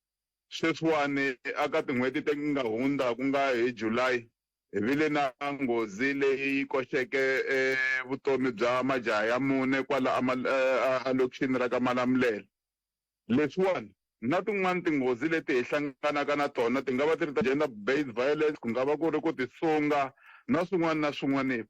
H: Sweswiwani a ka tin'hweti ti nga hundza ku nga hi July, Hi vile na nghozi leyi yi koxeke vutomi bya majaha ya mune kwala alokixini ra ka Malamulele. Leswiwani na tin'wana tinghozi leti hi hlanganaka na tona ti nga va ti ri ta gender based violence, ku nga va ku ri ku tisunga na swin'wana na swin'wana,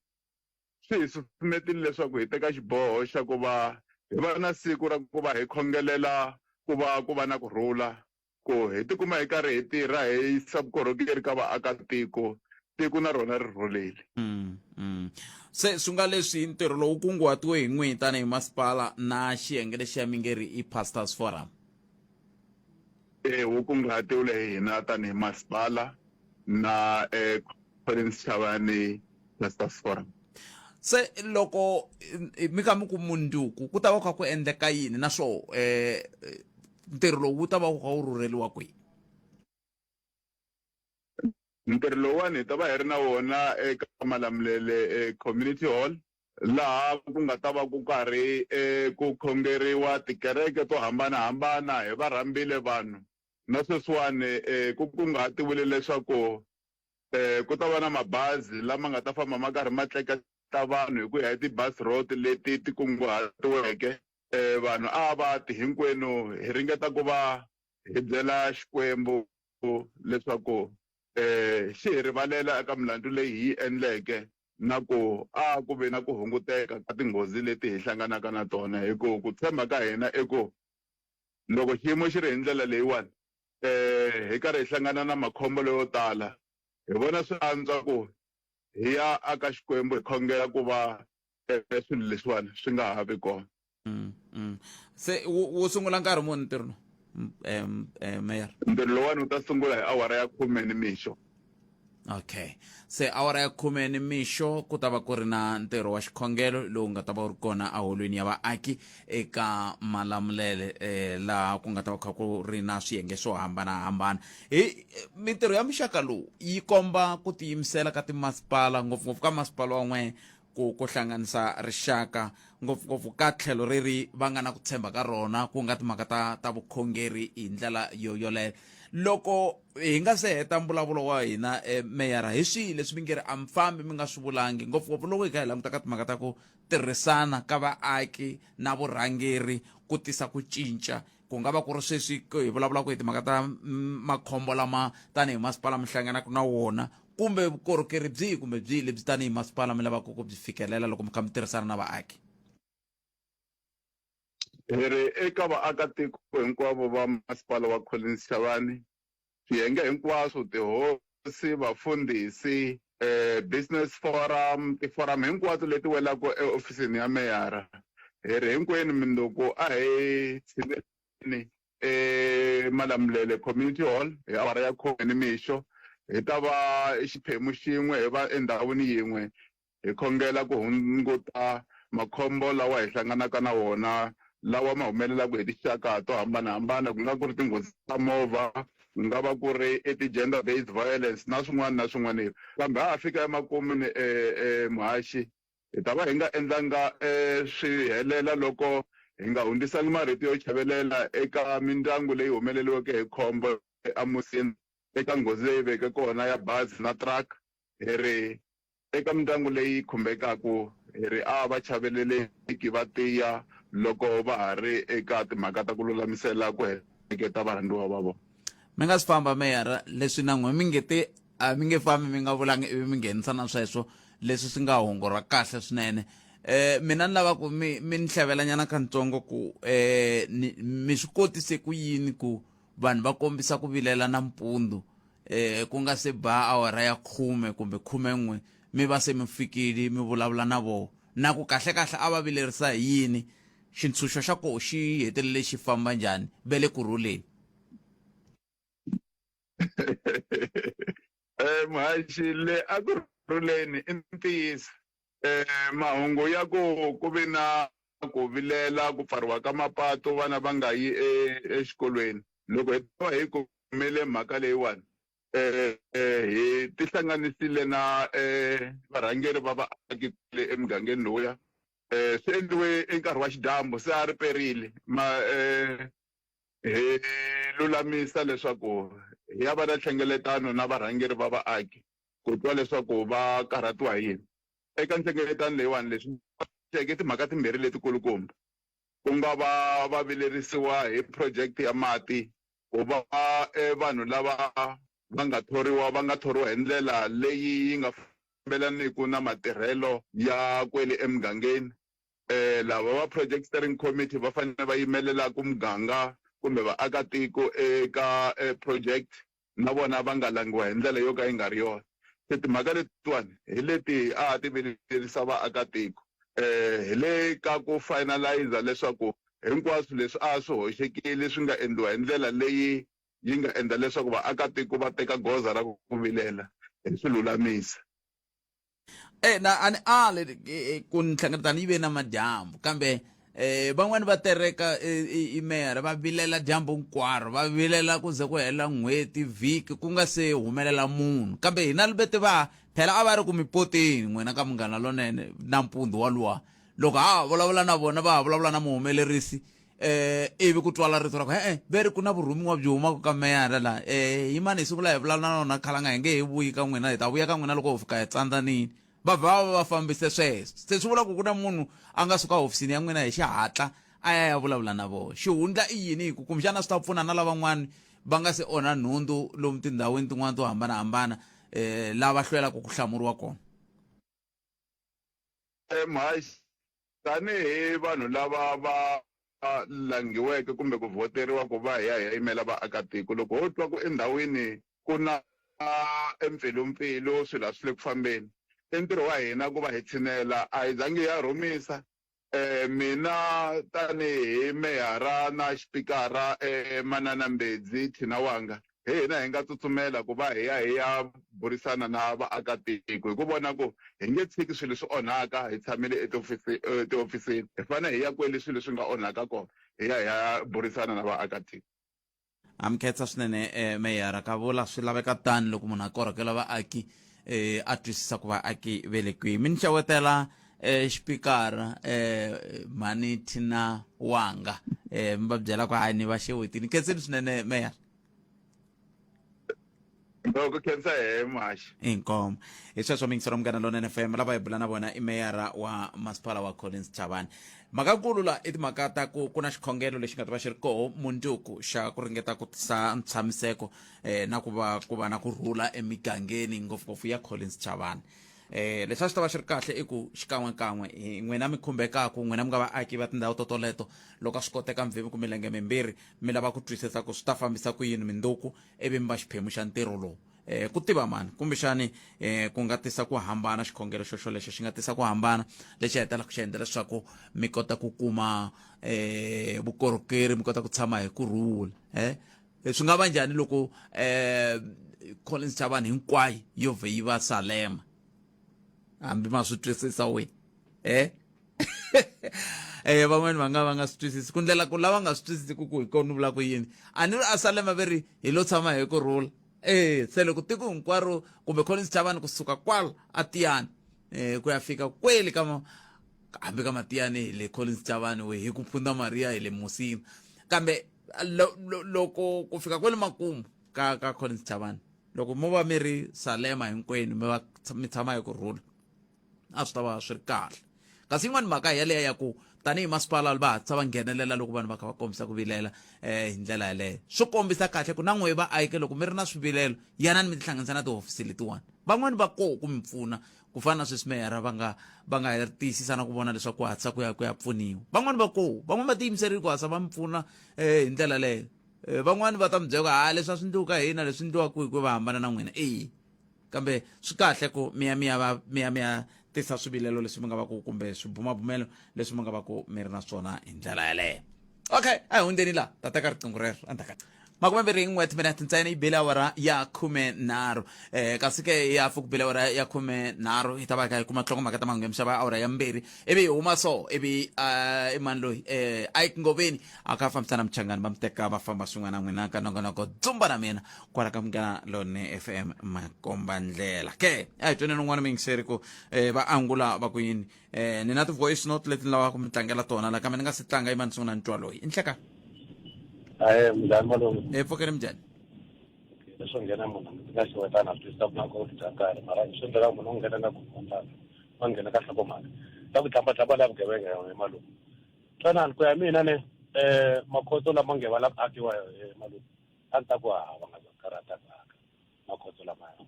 H: swi hi susumetile leswaku hi teka xiboho xa ku va hi va na siku ra ku va hi khongelela ku va ku va na ku rhula Ku hi tikuma hi karhi hi tirha hi yisa vukorhokeri ka vaakatiko, tiko na rona ri rhulile.
A: Se swi nga leswi ntirho lowu kunguhatiwe hi n'wihi tanihi masipala na xiyenge lexiya mi nge ri i Pastors Forum? E
H: wu kunguhatiwile hi hina tanihi masipala na Collins Chavani ni Pastors Forum. Se
A: loko mi kha mi ku mundzuku ku ta va ku kha ku endleka yini naswona ntirho lowu wu ta va wu kha wu rhurheriwa kwihi
H: ntirho lowuwani hi ta va hi ri na wona eka malamulele e community hall laha ku nga ta va ku karhi e ku khongeriwa tikereke to hambanahambana hi va rhambile vanhu na sweswiwani e ku kunguhatiwile leswaku e ku ta va na mabazi lama nga ta famba ma karhi ma tleketla vanhu hi ku ya hi ti-bus route leti ti kunguhatiweke vanhu a va ti hinkwenu hi ringeta ku va hi byela Xikwembu leswaku xi hi rivalela eka milandzu leyi hi yi endleke na ku a ku ve na ku hunguteka ka tinghozi leti hi hlanganaka na tona hi ku ku tshemba ka hina i ku loko xiyimo xi ri hi ndlela leyiwani hi karhi hi hlangana na makhombo leyo tala hi vona swi antswa ku hi ya aka Xikwembu hi khongela ku va e swilo
A: leswiwani swi nga ha vi kona mm, mm. se wu sungula nkarhi muni ntirho lowu um, um, mayor ntirho lowani wu
H: ta sungula hi awara ya khume ni mixo okay
A: se awara ya khume ni mixo ku ta va ku ri na ntirho wa xikhongelo lowu nga ta va wu ri kona eholweni ya vaaki eka malamulele eh, laha ku nga ta va kha ku ri na swiyenge swo hambanahambana hi mintirho ya muxaka lowu yi komba ku tiyimisela ka timasipala ngopfungopfu ka masipala wan'we ku ku hlanganisa rixaka ngopfungopfu ka tlhelo ri ri va nga na ku tshemba ka rona ku nga timhaka ta ta vukhongeri hi ndlela yo yoleyo loko hi nga se heta mbulavulo wa hina eh, meyara hi swihi leswi mi nge ri a mi fambi mi nga swi vulangi ngopfungopfu loko hi kha hi languta ka timhaka ta ku tirhisana ka vaaki na vurhangeri ku tisa ku cinca ku nga va ku ri sweswi hi vulavulaka hi timhaka ta mm, makhombo lama tanihi masipala mi hlanganaka na wona kumbe vukorhokeri byihi kumbe byihi lebyi tanihi masipala mi lavaka ku byi fikelela loko mi kha mi tirhisana na vaaki hi
H: ri eka vaakatiko hinkwavo va masipala wa collins xavani Swiyenge hinkwaswo, tihosi, vafundhisi, business forum, tiforamu hinkwato leti welaka eofisini ya meyara, hi ri hinkwenu minduku a hi tshineleni eMalamulele Community Hall hi awara ya khume nimixo. Hi ta va xiphemu xin'we, hi va endhawini yin'we Hi khongela ku hunguta makhombo lawa hi hlanganaka na wona lawa ma humelelaka hi tinxaka to hambanahambana, ku nga ku ri tinghozi ta movha, ku nga va ku ri i ti-gender based violence na swin'wana na swin'wana. Kambe ha ha fika emakun'wini muhaxi, hi ta va hi nga endlanga swi helela loko hi nga hundzisangi marito yo chavelela eka mindyangu leyi humeleriweke hi khombo eAmusina eka nghozi leyi veke kona ya bazi na truck hi ri, Eka mindyangu leyi khumbekaka, hi ri a va chaveleleki, va tiya loko va ha ri eka timhaka ta ku lulamisela ku heleketa varhandziwa va vona. Mi nga si famba,
A: meyara, leswi na n'we mi nge te, A mi nge fambi mi nga vulanga ivi mi nghenisa na sweswo, leswi swi nga hungu ra kahle swinene. E, mina ni lava ku mi, mi ni hlavelanyana kantsongo ku, e, ni, mi swi kotise ku yini ku vanhu va kombisa ku vilela nampundzu eh ku nga se ba awara ya khume kumbe khumen'we mi va se mi fikile mi vulavula na vona na ku kahlekahle a va vilerisa hi yini xintshunxo xa koho xi hetelele xi famba njhani ve le ku rhuleni
H: um hayi xi le a ku rhuleni i ntiyiso um mahungu ya ku ku ve na ku vilela ku pfariwa ka mapatu vana va nga yi e, exikolweni loko hi ta va hi kumele mhaka leyiwani um hi tihlanganisile na um varhangeri va vaaki le emugangeni lowuya um swi endliwe enkarhi wa xidyambu se a ri perile ma um hi lulamisa leswaku hi ya va na nhlengeletano na varhangeri va vaaki ku twa leswaku va karhatiwa hi yini. Eka nhlengeletano leyiwani leswi boxeke i timhaka timbirhi letikulukumba, ku nga va va vilerisiwa hi phurojekiti ya mati, ku va e vanhu lava va nga thoriwa va nga thoriwa hi ndlela leyi yi nga fambelaniki na matirhelo ya kwele emugangeni. E lava va Project Steering Committee va fanele va yimelelaka muganga kumbe vaakatiko eka e phurojekiti. na vona va nga langiwa hi ndlela yo ka yi nga ri yona. Se timhaka letiwani hi leti a a ti vilerisa vaakatiko hi le ka ku finaliser leswaku hinkwaswo leswi a swi hoxekile swi nga endliwa hi ndlela leyi yi nga endla leswaku vaakatiko va teka goza ra ku vilela hi swi lulamisa.
A: e na a ni ali eh, ku ni hlangana ni ve na madyambu kambe eh van'wani va tereka eh, imera va vilela dyambu hinkwaro va vilela ku ze ku hela n'hweti vhiki ku nga se humelela munhu kambe hina libete va phela a va ri ku mi poteni n'wina ka munghana lonene nampundzu waluwa loko ha ha vulavula na vona va ha vulavula na muhumelerisi eh ivi ku twala rito ra ku e-e ve ri ku na vurhumiwa byi humaka ka meyara laha um yi mani hi siku laha hi vulavula na nona khalanga hi nge he vuyi ka n'wina hi ta vuya ka n'wina loko ho fika hi tsandlanini va vha va va fambise sweswo se swi vula ku ku na munhu a nga suka hofisini ya n'wina hi xihatla a ya ya vulavula na vona xihundla i yini hi ku kumbexana swi ta pfuna na lavan'wana va nga se onha nhundzu lomu tindhawini tin'wana to hambanahambana um lava hlwelaka ku hlamuriwa kona
H: MH, Tanihi vanhu lava va langhiweke kumbe ku vhoteriwa ku va hi ya hi ya yimela vaakatiko, loko ho twa ku endhawini ku na empfilumpfilu, swilo a swi le ku fambeni, i ntirho wa hina ku va hi tshinela. A hi zangi hi ya rhumisa Mina tanihi Meyara na Xipikara, Manana Mbedzi, Thina Wanga, hi hina hi nga tsutsumela ku va hi ya hi ya burisana na vaakatiko hi ku vona ku hi nge tshiki swilo swi onhaka hi tshamile etihofisini. Hi fanele hi ya kwale swilo swi nga onhaka kona hi ya hi ya burisana na vaakatiko. Ha mi
A: khensa swinene eh, meyara ka vula swi laveka tani loko munhu a korhokela vaaki eh, a twisisa ku vaaki ve le kwihi mi ni xewetela eh, xipikara eh, mhani thina wanga eh, mi va byela ku hayi ni va xewetini khenseni swinene meyara
H: loko khensa hehe mhaxi inkomo
A: hi sweswo mi yingisela munghana lona fm lava hi bula na vona i meyara wa masipala wa collins chavani mhakakulu la i timhaka ta ku ku na xikhongelo lexi nga ta va xi ri koho munduku xa ku ringeta ku tisa ntshamiseko eh, na ku va ku va na ku rhula emigangeni ngopfungopfu ya collins chavani Eh, leswi a swi ta va swi ri kahle i ku xikan'wekan'we hi n'wina mi khumbekaku n'wina mi nga vaaki va tindhawu to toleto loko a swi koteka mi vhe mi ku milenge mimbirhi mi lava ku twisisa ku swi ta fambisa ku yini mindzuku ivi mi va xiphemu xa ntirho lowu eh ku tiva mani kumbexani eh ku nga tisa ku hambana xikhongelo xo xolexo xi nga tisa ku hambana lexi hetelaka xi endla leswaku mi kota ku kuma eh vukorhokeri mi kota ku tshama hi kurhula eh E, swi nga va njhani loko um eh, collins xa vanhu hinkwayo yo vhe yi va salema hambi ma swi twisisa wena eh? e um van'wani va nga va nga swi twisisi ku ndlela ku lava nga swi twisisi ku ku hi kona ni vula ku yini a ni ri a salema ve ri hi lo tshama hi ku rhula e se loko tiko hinkwaro kumbe collins xa vanhu kusuka kwala a tiyani um ku ya fika kweli ka hambi ka matiyani hi le collins xa vanhu hi ku pfunda mariya hi le musini kambe Lo- lo- loko ku fika kwale makumu ka ka collins chavani loko mo va mi ri salema hinkwenu mi va mi tshama hi ku rhula a swi ta va swi ri kahle kasi yin'wani mhaka yaleyo ya ku tanihi masipala va hatlisa va nghenelela loko vanhu va kha va kombisa ku vilela um hi ndlela yaleyo swi kombisa kahle ku na n'wehe vaake loko mi ri na swivilelo yanani mi tihlanganisa na tihofisi letiwani van'wani va koho ku mi pfuna ku fana na sweswi meyara va nga va nga tiyisisa na ku vona leswaku ku hatlisa ku ya ku ya pfuniwa van'wani va koho van'wani va tiyimiserile ku hatlisa va mi pfuna um hi ndlela leyo um van'wani va ta mi byela ha leswi a swi ndliwaka hina leswi ndliwaka hi ku va hambana na n'wina eyi kambe swi kahle ku miya miya va miya miya tisa swivilelo leswi mi nga va ku kumbe swibumabumelo leswi mi nga va ku mi ri na swona hi ndlela yaleyo okay a hi hundzeni laha ta teka riqingho rero endzhaku makume mbirhi n'we timinete ntsena yi bile awara ya khume nharhu um kasi ke ya pfa ku bile awara ya khume nharhu hi ta va hi kha hi kuma tlongo mhaka ta mahungu ya mixava awara ya mbirhi ivi hi huma so ivi i mani loyi um a yi ngoveni a kha a fambisana muchangani va mi teka va famba swin'wana na n'wina ka nongonoko dzumba na mina kwala ka munghana lone f m makombandlela ke a hi tweneni un'wana mi yingiseri ku um va angula va ku yini eh ni na ti-voice note leti ni lavaka ku mi tlangela tona la kambe ni nga si tlanga yi va ni sungula ni twa loyi i nhleka aye
C: mnjhani malume e eh, pfukeni mnjhani
A: leswo
C: nghena munhu ndzi nga xiwetana a twisisa ku nakona bya karhi mara swi endlela munhu u nghena nga ku kombaka wa nghena ka hlakomhaka ta ku tlhambatlhamba la vugevenga yona hi malume twanani ku ya mina ne um makhotso lama nge va la ku akiwa hi malume a ni ta ku hava nga karhata mhaka makhotso lamaya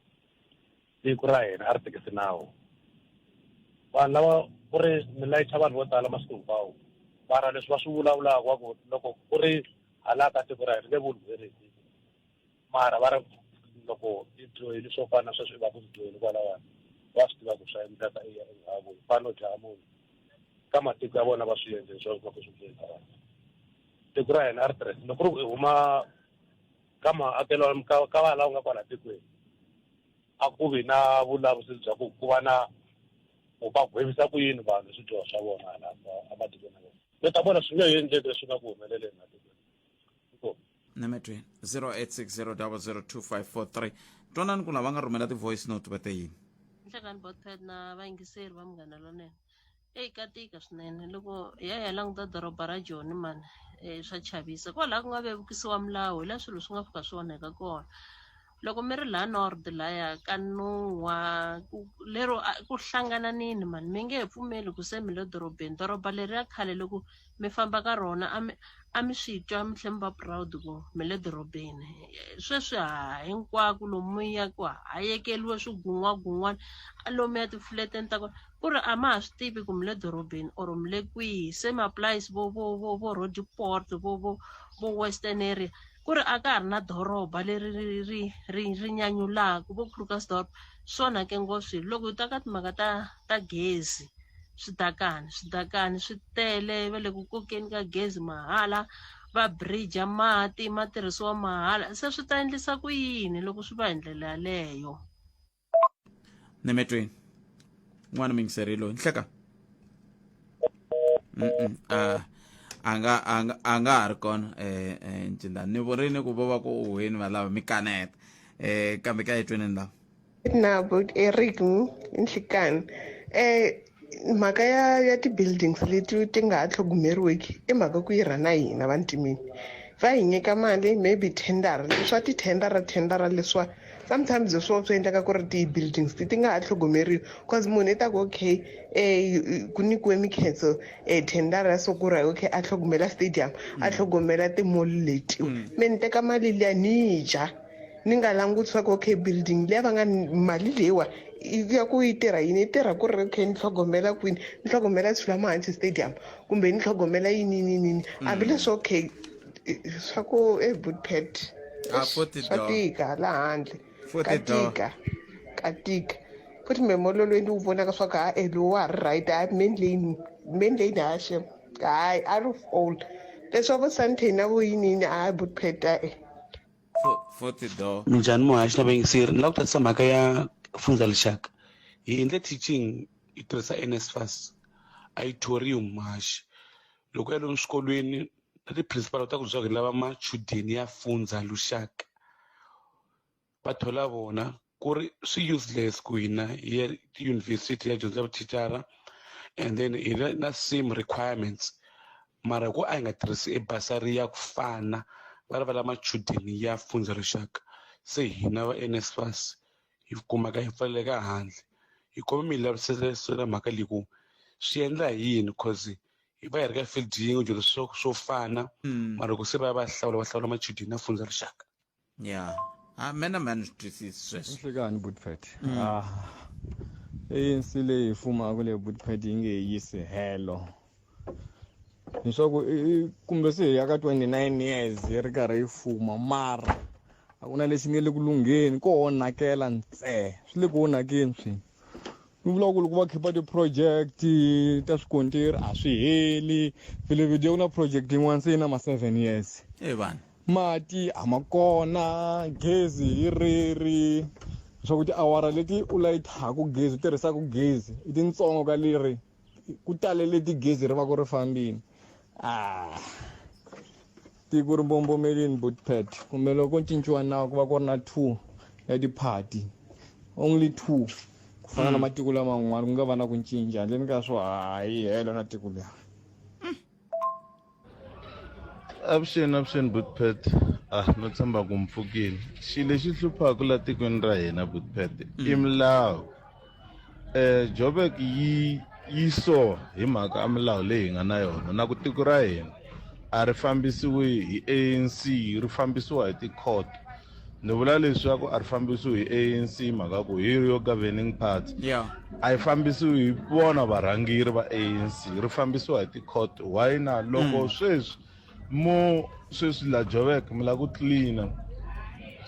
C: tiko ra hina a ri tekisi nawu vanhu lava ku ri mi layicha vanhu vo tala masiku hinkwawo mara leswi va swi vulavulaka wa ku loko ku ri hala ka tiko ra hina nge vuli verisi mara va ri loko
I: i dyohile swo fana na sweswi i va ku dyohile kwalawani va swi tiva ku swa endleka i ya enhaku hi fane u dlaya munhu ka matiko ya vona va swi endle leswaku va ku swi dyohisa vanhu tiko ra hina a ri tirhisa loko ri huma ka maakelo ka ka va lawa nga kwala tikweni a ku vi na vulavisisi bya ku ku va na ku va gwevisa ku yini vanhu swidyoho swa vona hala ematikweni ya vona mi ta vona swi nge endleki leswi nga ku humeleleni ematikweni inkomu
A: nametweni 0860002543 twanani ku lava nga rhumela ti-voice note va te yini nhlekani botpad
J: na vayingiseri va munghana lonene Eyi ka tika swinene loko hi ya hi ya languta doroba ra Joni mani eh, swa chavisa kwalaho ku nga vevukisiwa milawu hi la swilo swi nga fika swi onheka kona loko mi ri la nord laya ka nuwa ku lero a- ku hlangananini mani mi nge he pfumeli ku se mi le dorobeni doroba leri ya khale loko mi famba ka rona a mi a mi swi twa mi tlhe mi va proud ku mi le dorobeni sweswi ha hinkwako lomu mi yaku ha yekeliwe swigun'wagun'wana a lomu ya tifuleteni ta kona ku ri a ma ha swi tivi ku mi le dorobeni or mi le kwihi se ma-plies vo vo vo vo rodiport vo vo vo western area ku ri a ka ha ri na doroba leri ri ri ri ri nyanyulaka vo Krugersdorp swi onhake ngopfu swilo loko hi ta ka timhaka ta ta gezi switakani switakani swi tele va le ku kokeni ka gezi mahala va bridge mati ma tirhisiwa mahala se swi ta endlisa ku yini loko swi va hi ndlela yaleyo. ni
A: metweni n'wana mi yingiseri loyi nhleka a a nga a nga a nga ha ri kona eh eh ncindani ni vurini ku vo va ku uhweni valava mi kaneta eh kambe ka etweni ni lava na but
K: eric nhlikani eh mhaka ya ya ti-buildings leti ti nga ha tlhogomeriweki i mhaka ku yi rhana hina vantimini va hi nyika mali maybe tendara leswa tithendara thendara leswa sometimes hi swona swi endlaka ku ri ti-buildings ti ti nga ha tlhogomeriwi because munhu i ta ku okay um ku nyikiwe mikhenso um eh, thendara ya sokura okay a tlhogomela stadium a tlhogomela timoli letiwa mm. me ni teka mali liya ni yi dya ni nga languti swa ku okay building leyi va nga mali leyiwa ya ku yi tirha yini yi tirha ku ri okay ni tlhogomela kwini ni tlhogomela swilamuhansi stadium kumbe ni tlhogomela yini yini yini mm. hambileswi okay swa ku ebudpet ah, swa tika la handle ka tika ka tika futhi memololweni wu vonaka swa ku ha e lowu wa ha ri right ha main lane main lane ha shem hayi out of all leswa vo santain na vo yiniyini a budpet a-e
L: minjhani muhaxi na vayingiseri ni lava ku tatisa mhaka ya fundza lixaka hi endle teaching hi tirhisa nsfas a yi thorium muhaxi loko ya lomu swikolweni na ti-principal ta ku byaka hi lava machudeni ya fundza luxaka va thola vona ku ri swi useless ku hina hi ya tiyunivhesiti ya dyondza vuthicara and then hi ri na same requirements mara ku a hi nga tirhisi ebasari ya ku fana va ri va la machudeni ya funza rixaka se hina va NSFAS hi kumaka hi pfaleleka handle hi kome mi lavisela mhaka leyi ku swi endla hi yini cause hi va hi ri ka field yin'we dyondzo swo swo fana hmm. mara ku se va va hlawula va hlawula machudeni ya funza rixaka ya
A: a mena mani swi twisisi sweswo nhlikani budpet
M: mm. ah, anc leyi fumaka leyi budpet yi nge yisi helo leswaku kumbe se hi ya ka 29 years yi ri karhi yi fuma mara a ku na lexi nge le ku lungheni ko onhakela ntsena swi le ku onhakeni swini ni vulaka ku loko va khipa ti-project ta swikontiri a swi heli vilevedi ku na project yin'wana se yi na ma-seven years e vanhu
A: mati a
M: ma kona gezi hi riri leswaku tiawara leti u layithaku gezi u tirhisaka gezi i tintsongo ka leri ku talele tigezi ri va ku ri fambini ah tiko ri mbombomelini botpet kumbe loko cinciwa nawu ku va ku ri na two ya tiphati only two ku fana na mm. matiko laman'wana ku nga va na ku cinca handleni ka swo hayi helo na tiko leri
N: avuxeni avuxeni butpet ah no tshemba ku mpfukile xilo lexi hluphaka la tikweni ra hina butpet i milawu um jobek yi yi so hi mhaka a milawu leyi hi nga na yona na ku tiko ra hina a ri fambisiwi hi anc ri fambisiwa hi ti-court ni vula leswaku a ri fambisiwi hi anc mhaka ku hi yo governing party yeah. a yi fambisiwi hi vona varhangeri va anc ri fambisiwa hi ti-court why na loko mm. sweswi mo sweswi la jovek mi la ku cleana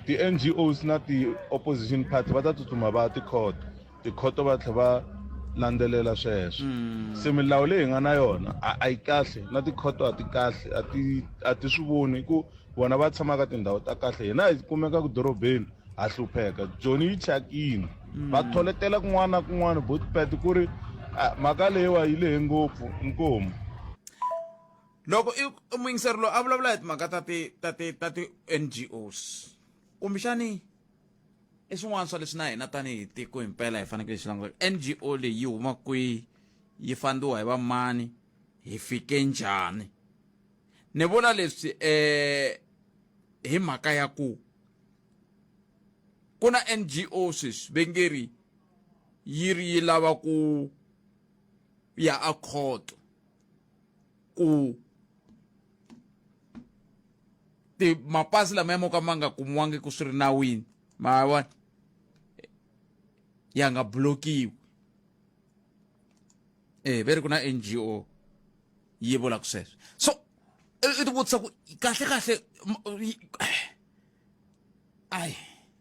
N: ti-ngos na ti-opposition party va ta tsutsuma va ya ti-court Tikhoto va tlhe va landzelela sweswo se milawu leyi hi nga na yona a a yi kahle na tikhoto a ti kahle a ti a ti swi voni hi ku vona va tshama ka tindhawu ta kahle hina hi kumeka ku dorobeni ha hlupheka joni yi thyakini va tholetela kun'wana na kun'wana botpet ku ri ah, mhaka leyiwa yi lehe ngopfu nkomu
A: loko i i muyingiseri loyi a vulavula hi timhaka ta ti ta ti ta ti-ngos kumbexani i swin'wana swa leswi na hina tanihi tiko hi mpela hi fanekele hi swi languta ngo leyi yi huma kwihi yi fandiwa hi vamani hi fike njhani ni vula leswi eh hi mhaka ya ku ku na ngo sweswi ve nge ri yi ri yi lava ku ya a khoto ku ti mapasi lama ya mo ka ma nga kumiwangi ku swi ri nawini ma vona ya nga blokiwi eh ve ri ku na ngo yi vulaka sweswo so i ti vutisa ku kahle kahle ai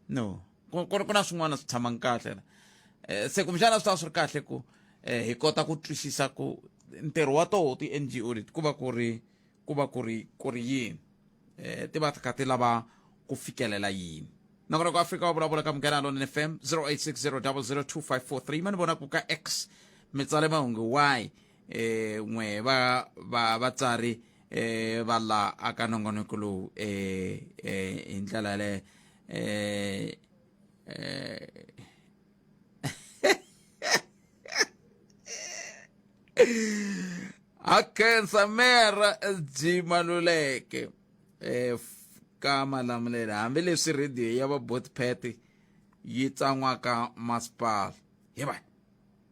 A: no ku ku ri ku na swin'wana swi tshama kahle la um se kumbexana swi tava swi ri kahle ku um hi kota ku twisisa ku ntirho wa toho ti-n g o leti ku va ku ri ku va ku ri ku ri yini um ti va ti kha ti lava ku fikelela yini nakona ku afrika wa vulavula ka munghana lona f m 0860002543 ma ni vona ku ka x mi tsale mahungu y um n'we va va vatsari eh va la aka nongonoko lowu eh eh hi ndlela yaleyo eh eh akhensa mera byi maluleke eh ka malamulelo hambileswi rhediyo ya va botpet yi tsan'waka masipala hi va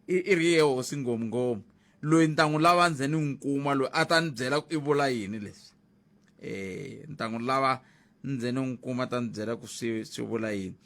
A: i i ri ye hosi ngomngom loyi ni ta n'wi lava ndze ni n'wi kuma loyi a ta ni byela ku i vula yini leswi eh ni ta n'wi lava ndze ni n'wi kuma ta ni byela ku swi swi vula yini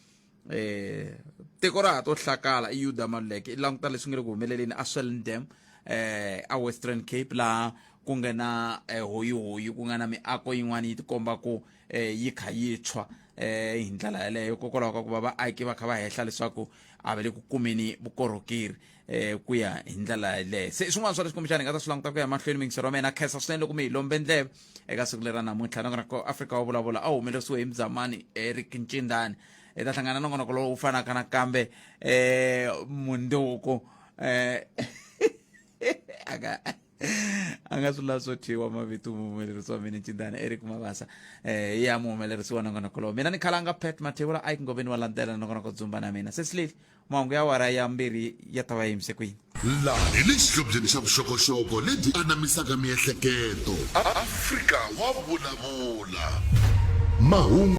A: eh tiko ra ha to hlakala i yuda maluleke i languta leswi nga le ku humeleleni a swellendam eh a western cape laha ku nga na eh, hoyihoyi ku nga na miako yin'wana yi tikomba ku eh, yi kha yi tshwa eh hi ndlela yeleyo hikokwalaho ka ku va vaaki va kha va hehla leswaku a va le ku kumeni vukorhokeri eh ku ya hi ndlela yeleyo se swin'wana swa leswi kumbexana hi nga ta swi languta ku ya mahlweni mingisi ra mina khensa swinene loko mi hi lombe ndleve eka siku lera namuntlha nakona ko afrika wa vulavula a wu humelerisiwe hi mzamani eric ncindani hi ta hlangana na ngonoko lowu fanaka nakambe eh mundzuku eh aka a nga swi lavi swo thyiwa mavito muhumelerisi wa mina ncindana eric mabasa eh ya muhumelerisi wa nongonoko lowu mina ni khalanga pet mathewula ike ngoveni wa landzela nongonoko dzumba na mina sesileli mahungu ya wara ya mbirhi ya ta va yimise kwini laha hi le
B: xihlobyeni xa vuxokoxoko lebyi anamisaka miehleketo afrika wa vulavula mahungu